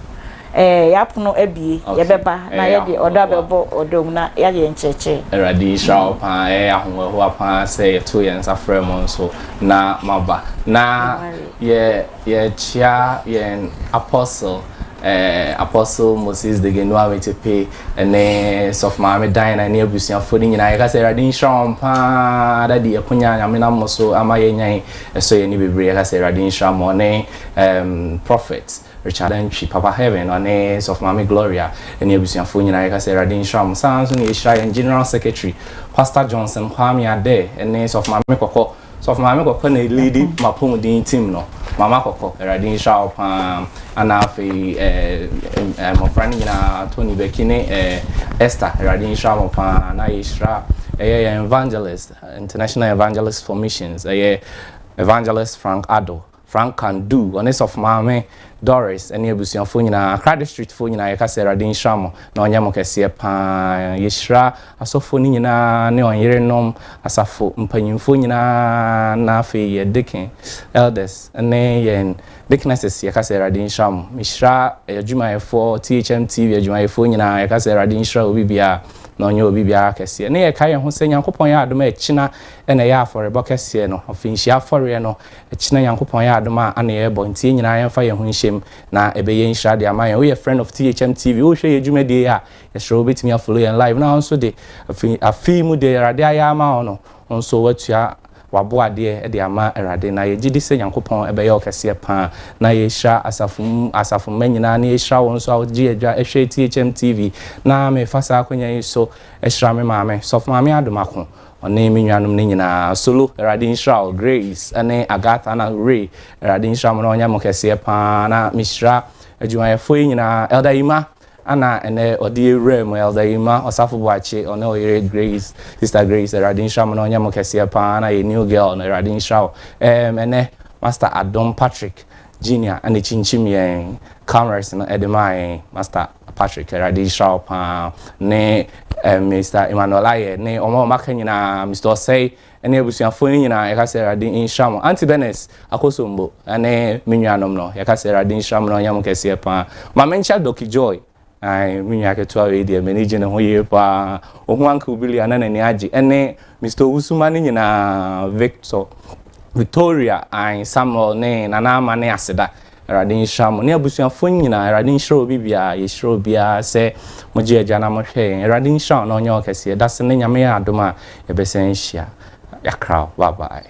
Ɛɛ, yɛapono abue, yɛbɛba na yɛde ɔdɔ abɛbɔ ɔdɔ mu na yɛayɛ nkyerɛkyerɛ. Awurade nhyira wo paa, ɛyɛ ahohoahoa paa sɛ yɛtoo yɛn nsa frɛɛ mo nso na moaba. Na yɛ, yɛkyea yɛn Apostle, ɛɛ, Apostle Moses Degenua Metepe ne Sɔfo Maame Diana ne abusuafoɔ no nyinaa. Yɛka sɛ Awurade nhyira wɔn paa, Daddy, akonya a Nyame nam mo so ama yɛanya yi, ɛsɔ yɛn ani bebree. Yɛka sɛ Awurade nhyira mo, ne ɛɛm, Prophet. Richard Antwi, Papa Heaven, na ɔne Sɔfo Maame Gloria ne abusuafoɔ nyinaa. Yɛka sɛ Awurade nhyira mo. Saa ara nso na yɛhyira yɛn General Secretary, Pastor Johnson Kwame Adair ne Sɔfo Maame Kɔkɔ. Sɔfo Maame Kɔkɔ na ɛliidi M'apɔmuden team no. Mama Kɔkɔ, Awurade nhyira wo pa ara. Ɛna afei eh, mmɔfra no nyinaa, Tony Bɛki ne eh, Esther, Awurade nhyira mo pa ara. Na yɛhyira ɛyɛ yɛn evangelist, International Evangelist for Missions, ɛyɛ Evangelist Frank Addo. Franca Ndu, ɔne Sɔfo Maame Doris ne abusuafoɔ nyinaa, Accra Districtfoɔ nyinaa yɛka sɛ Awurade nhyira mo na ɔnyɛ mo kɛseɛ paa. Yɛhyira asɔfoɔ no nyinaa ne wɔn yerenom, asafo mpanyimfoɔ nyinaa na afei yɛn deacon, elders ne yɛn deaconesses yɛka sɛ Awurade nhyira mo. Mehyira adwumayɛfoɔ, THM TV adwumayɛfoɔ nyinaa yɛka sɛ Awurade nhyira obi biara na ɔnyɛ obi biara kɛseɛ. Ne yɛkae yɛn ho sɛ Nyankopɔn yɛ adom a ɛkyena na ɛyɛ afɔrebɔ kɛseɛ no, ɔfinhyia afɔreɛ no, Ɛkyena Nyankopɔn yɛ adom a ana yɛbɔ nti yɛn nyinaa yɛmfa yɛn ho nhyɛm na ɛbɛyɛ nhyira de ama yɛn. Woyɛ friend of THM TV wohwɛ yɛn dwumadie yi a yɛsrɛ wo wobɛtumi a follow yɛn live na wo nso de afi afe yi mu deɛ Awurade ayɛ ama wo no wo nso woatua wabo adeɛ de ama Awurade na yɛgye di sɛ Nyankopɔn bɛyɛ wo kɛseɛ paa na yɛhyira asafo mu asafo mma nyinaa na yɛhyira wo nso a wogye adwa hwɛ THM TV na mefa saa akwanya yi so hyira me maame Sɔfo Maame Adom Ako Ɔne me nuanom no nyinaa, Solo, Awurade nhyira wo, Grace, ɛne Agatha na Ray, Awurade nhyira mo na ɔnyɛ mo kɛseɛ paa na mehyira adwumayɛfoɔ yi nyinaa, Elder Yima, ana ɛnɛ ɔde yɛ wura mu, Elder Yima, Ɔsafo Boakye, ɔne ɔyere Grace, Sister Grace, Awurade nhyira mo na ɔnyɛ mo kɛseɛ paa na yɛ new girl no, Awurade nhyira wo, ɛɛm, ɛnɛ Master Adom Patrick, Junior, ɛna ɛkyinkyim yɛn cameras no ɛde maa yɛn, Master. Patrick, Awurade nhyira wo paa, ne eh, Mr. Emmanuel Ayɛ, ne wɔn a wɔaka nyinaa, Mr. Ɔsɛe, ne abusuafoɔ no nyinaa, yɛka sɛ Awurade nhyira mo. Auntie Benes Akosombo, ne me nuanom no, yɛka sɛ Awurade nhyira mo na ɔnyɛ mo kɛseɛ paa. Ma menkyɛ Doki Joy, ae, me nua ketewa wei deɛ, m'ani gye ne ho yie paa. Ɔhu Uncle Billy a na n'ani agye, ne Mr. Owusuma no nyinaa, Victor, Victoria, ae, Samuel, ne Nana Ama ne Aseda, Awurade nhyira mo ne abusuafoɔ no nyinaa. Awurade nhyira obi biara. Yɛhyira obiara sɛ mogye Agya na mohwɛ yɛn. Awurade nhyira wo na ɔnyɛ wo kɛseɛ. Dase nnɛ Nyame yɛ adom a yɛbɛsan ahyia. Yɛakra wo. Bye bye.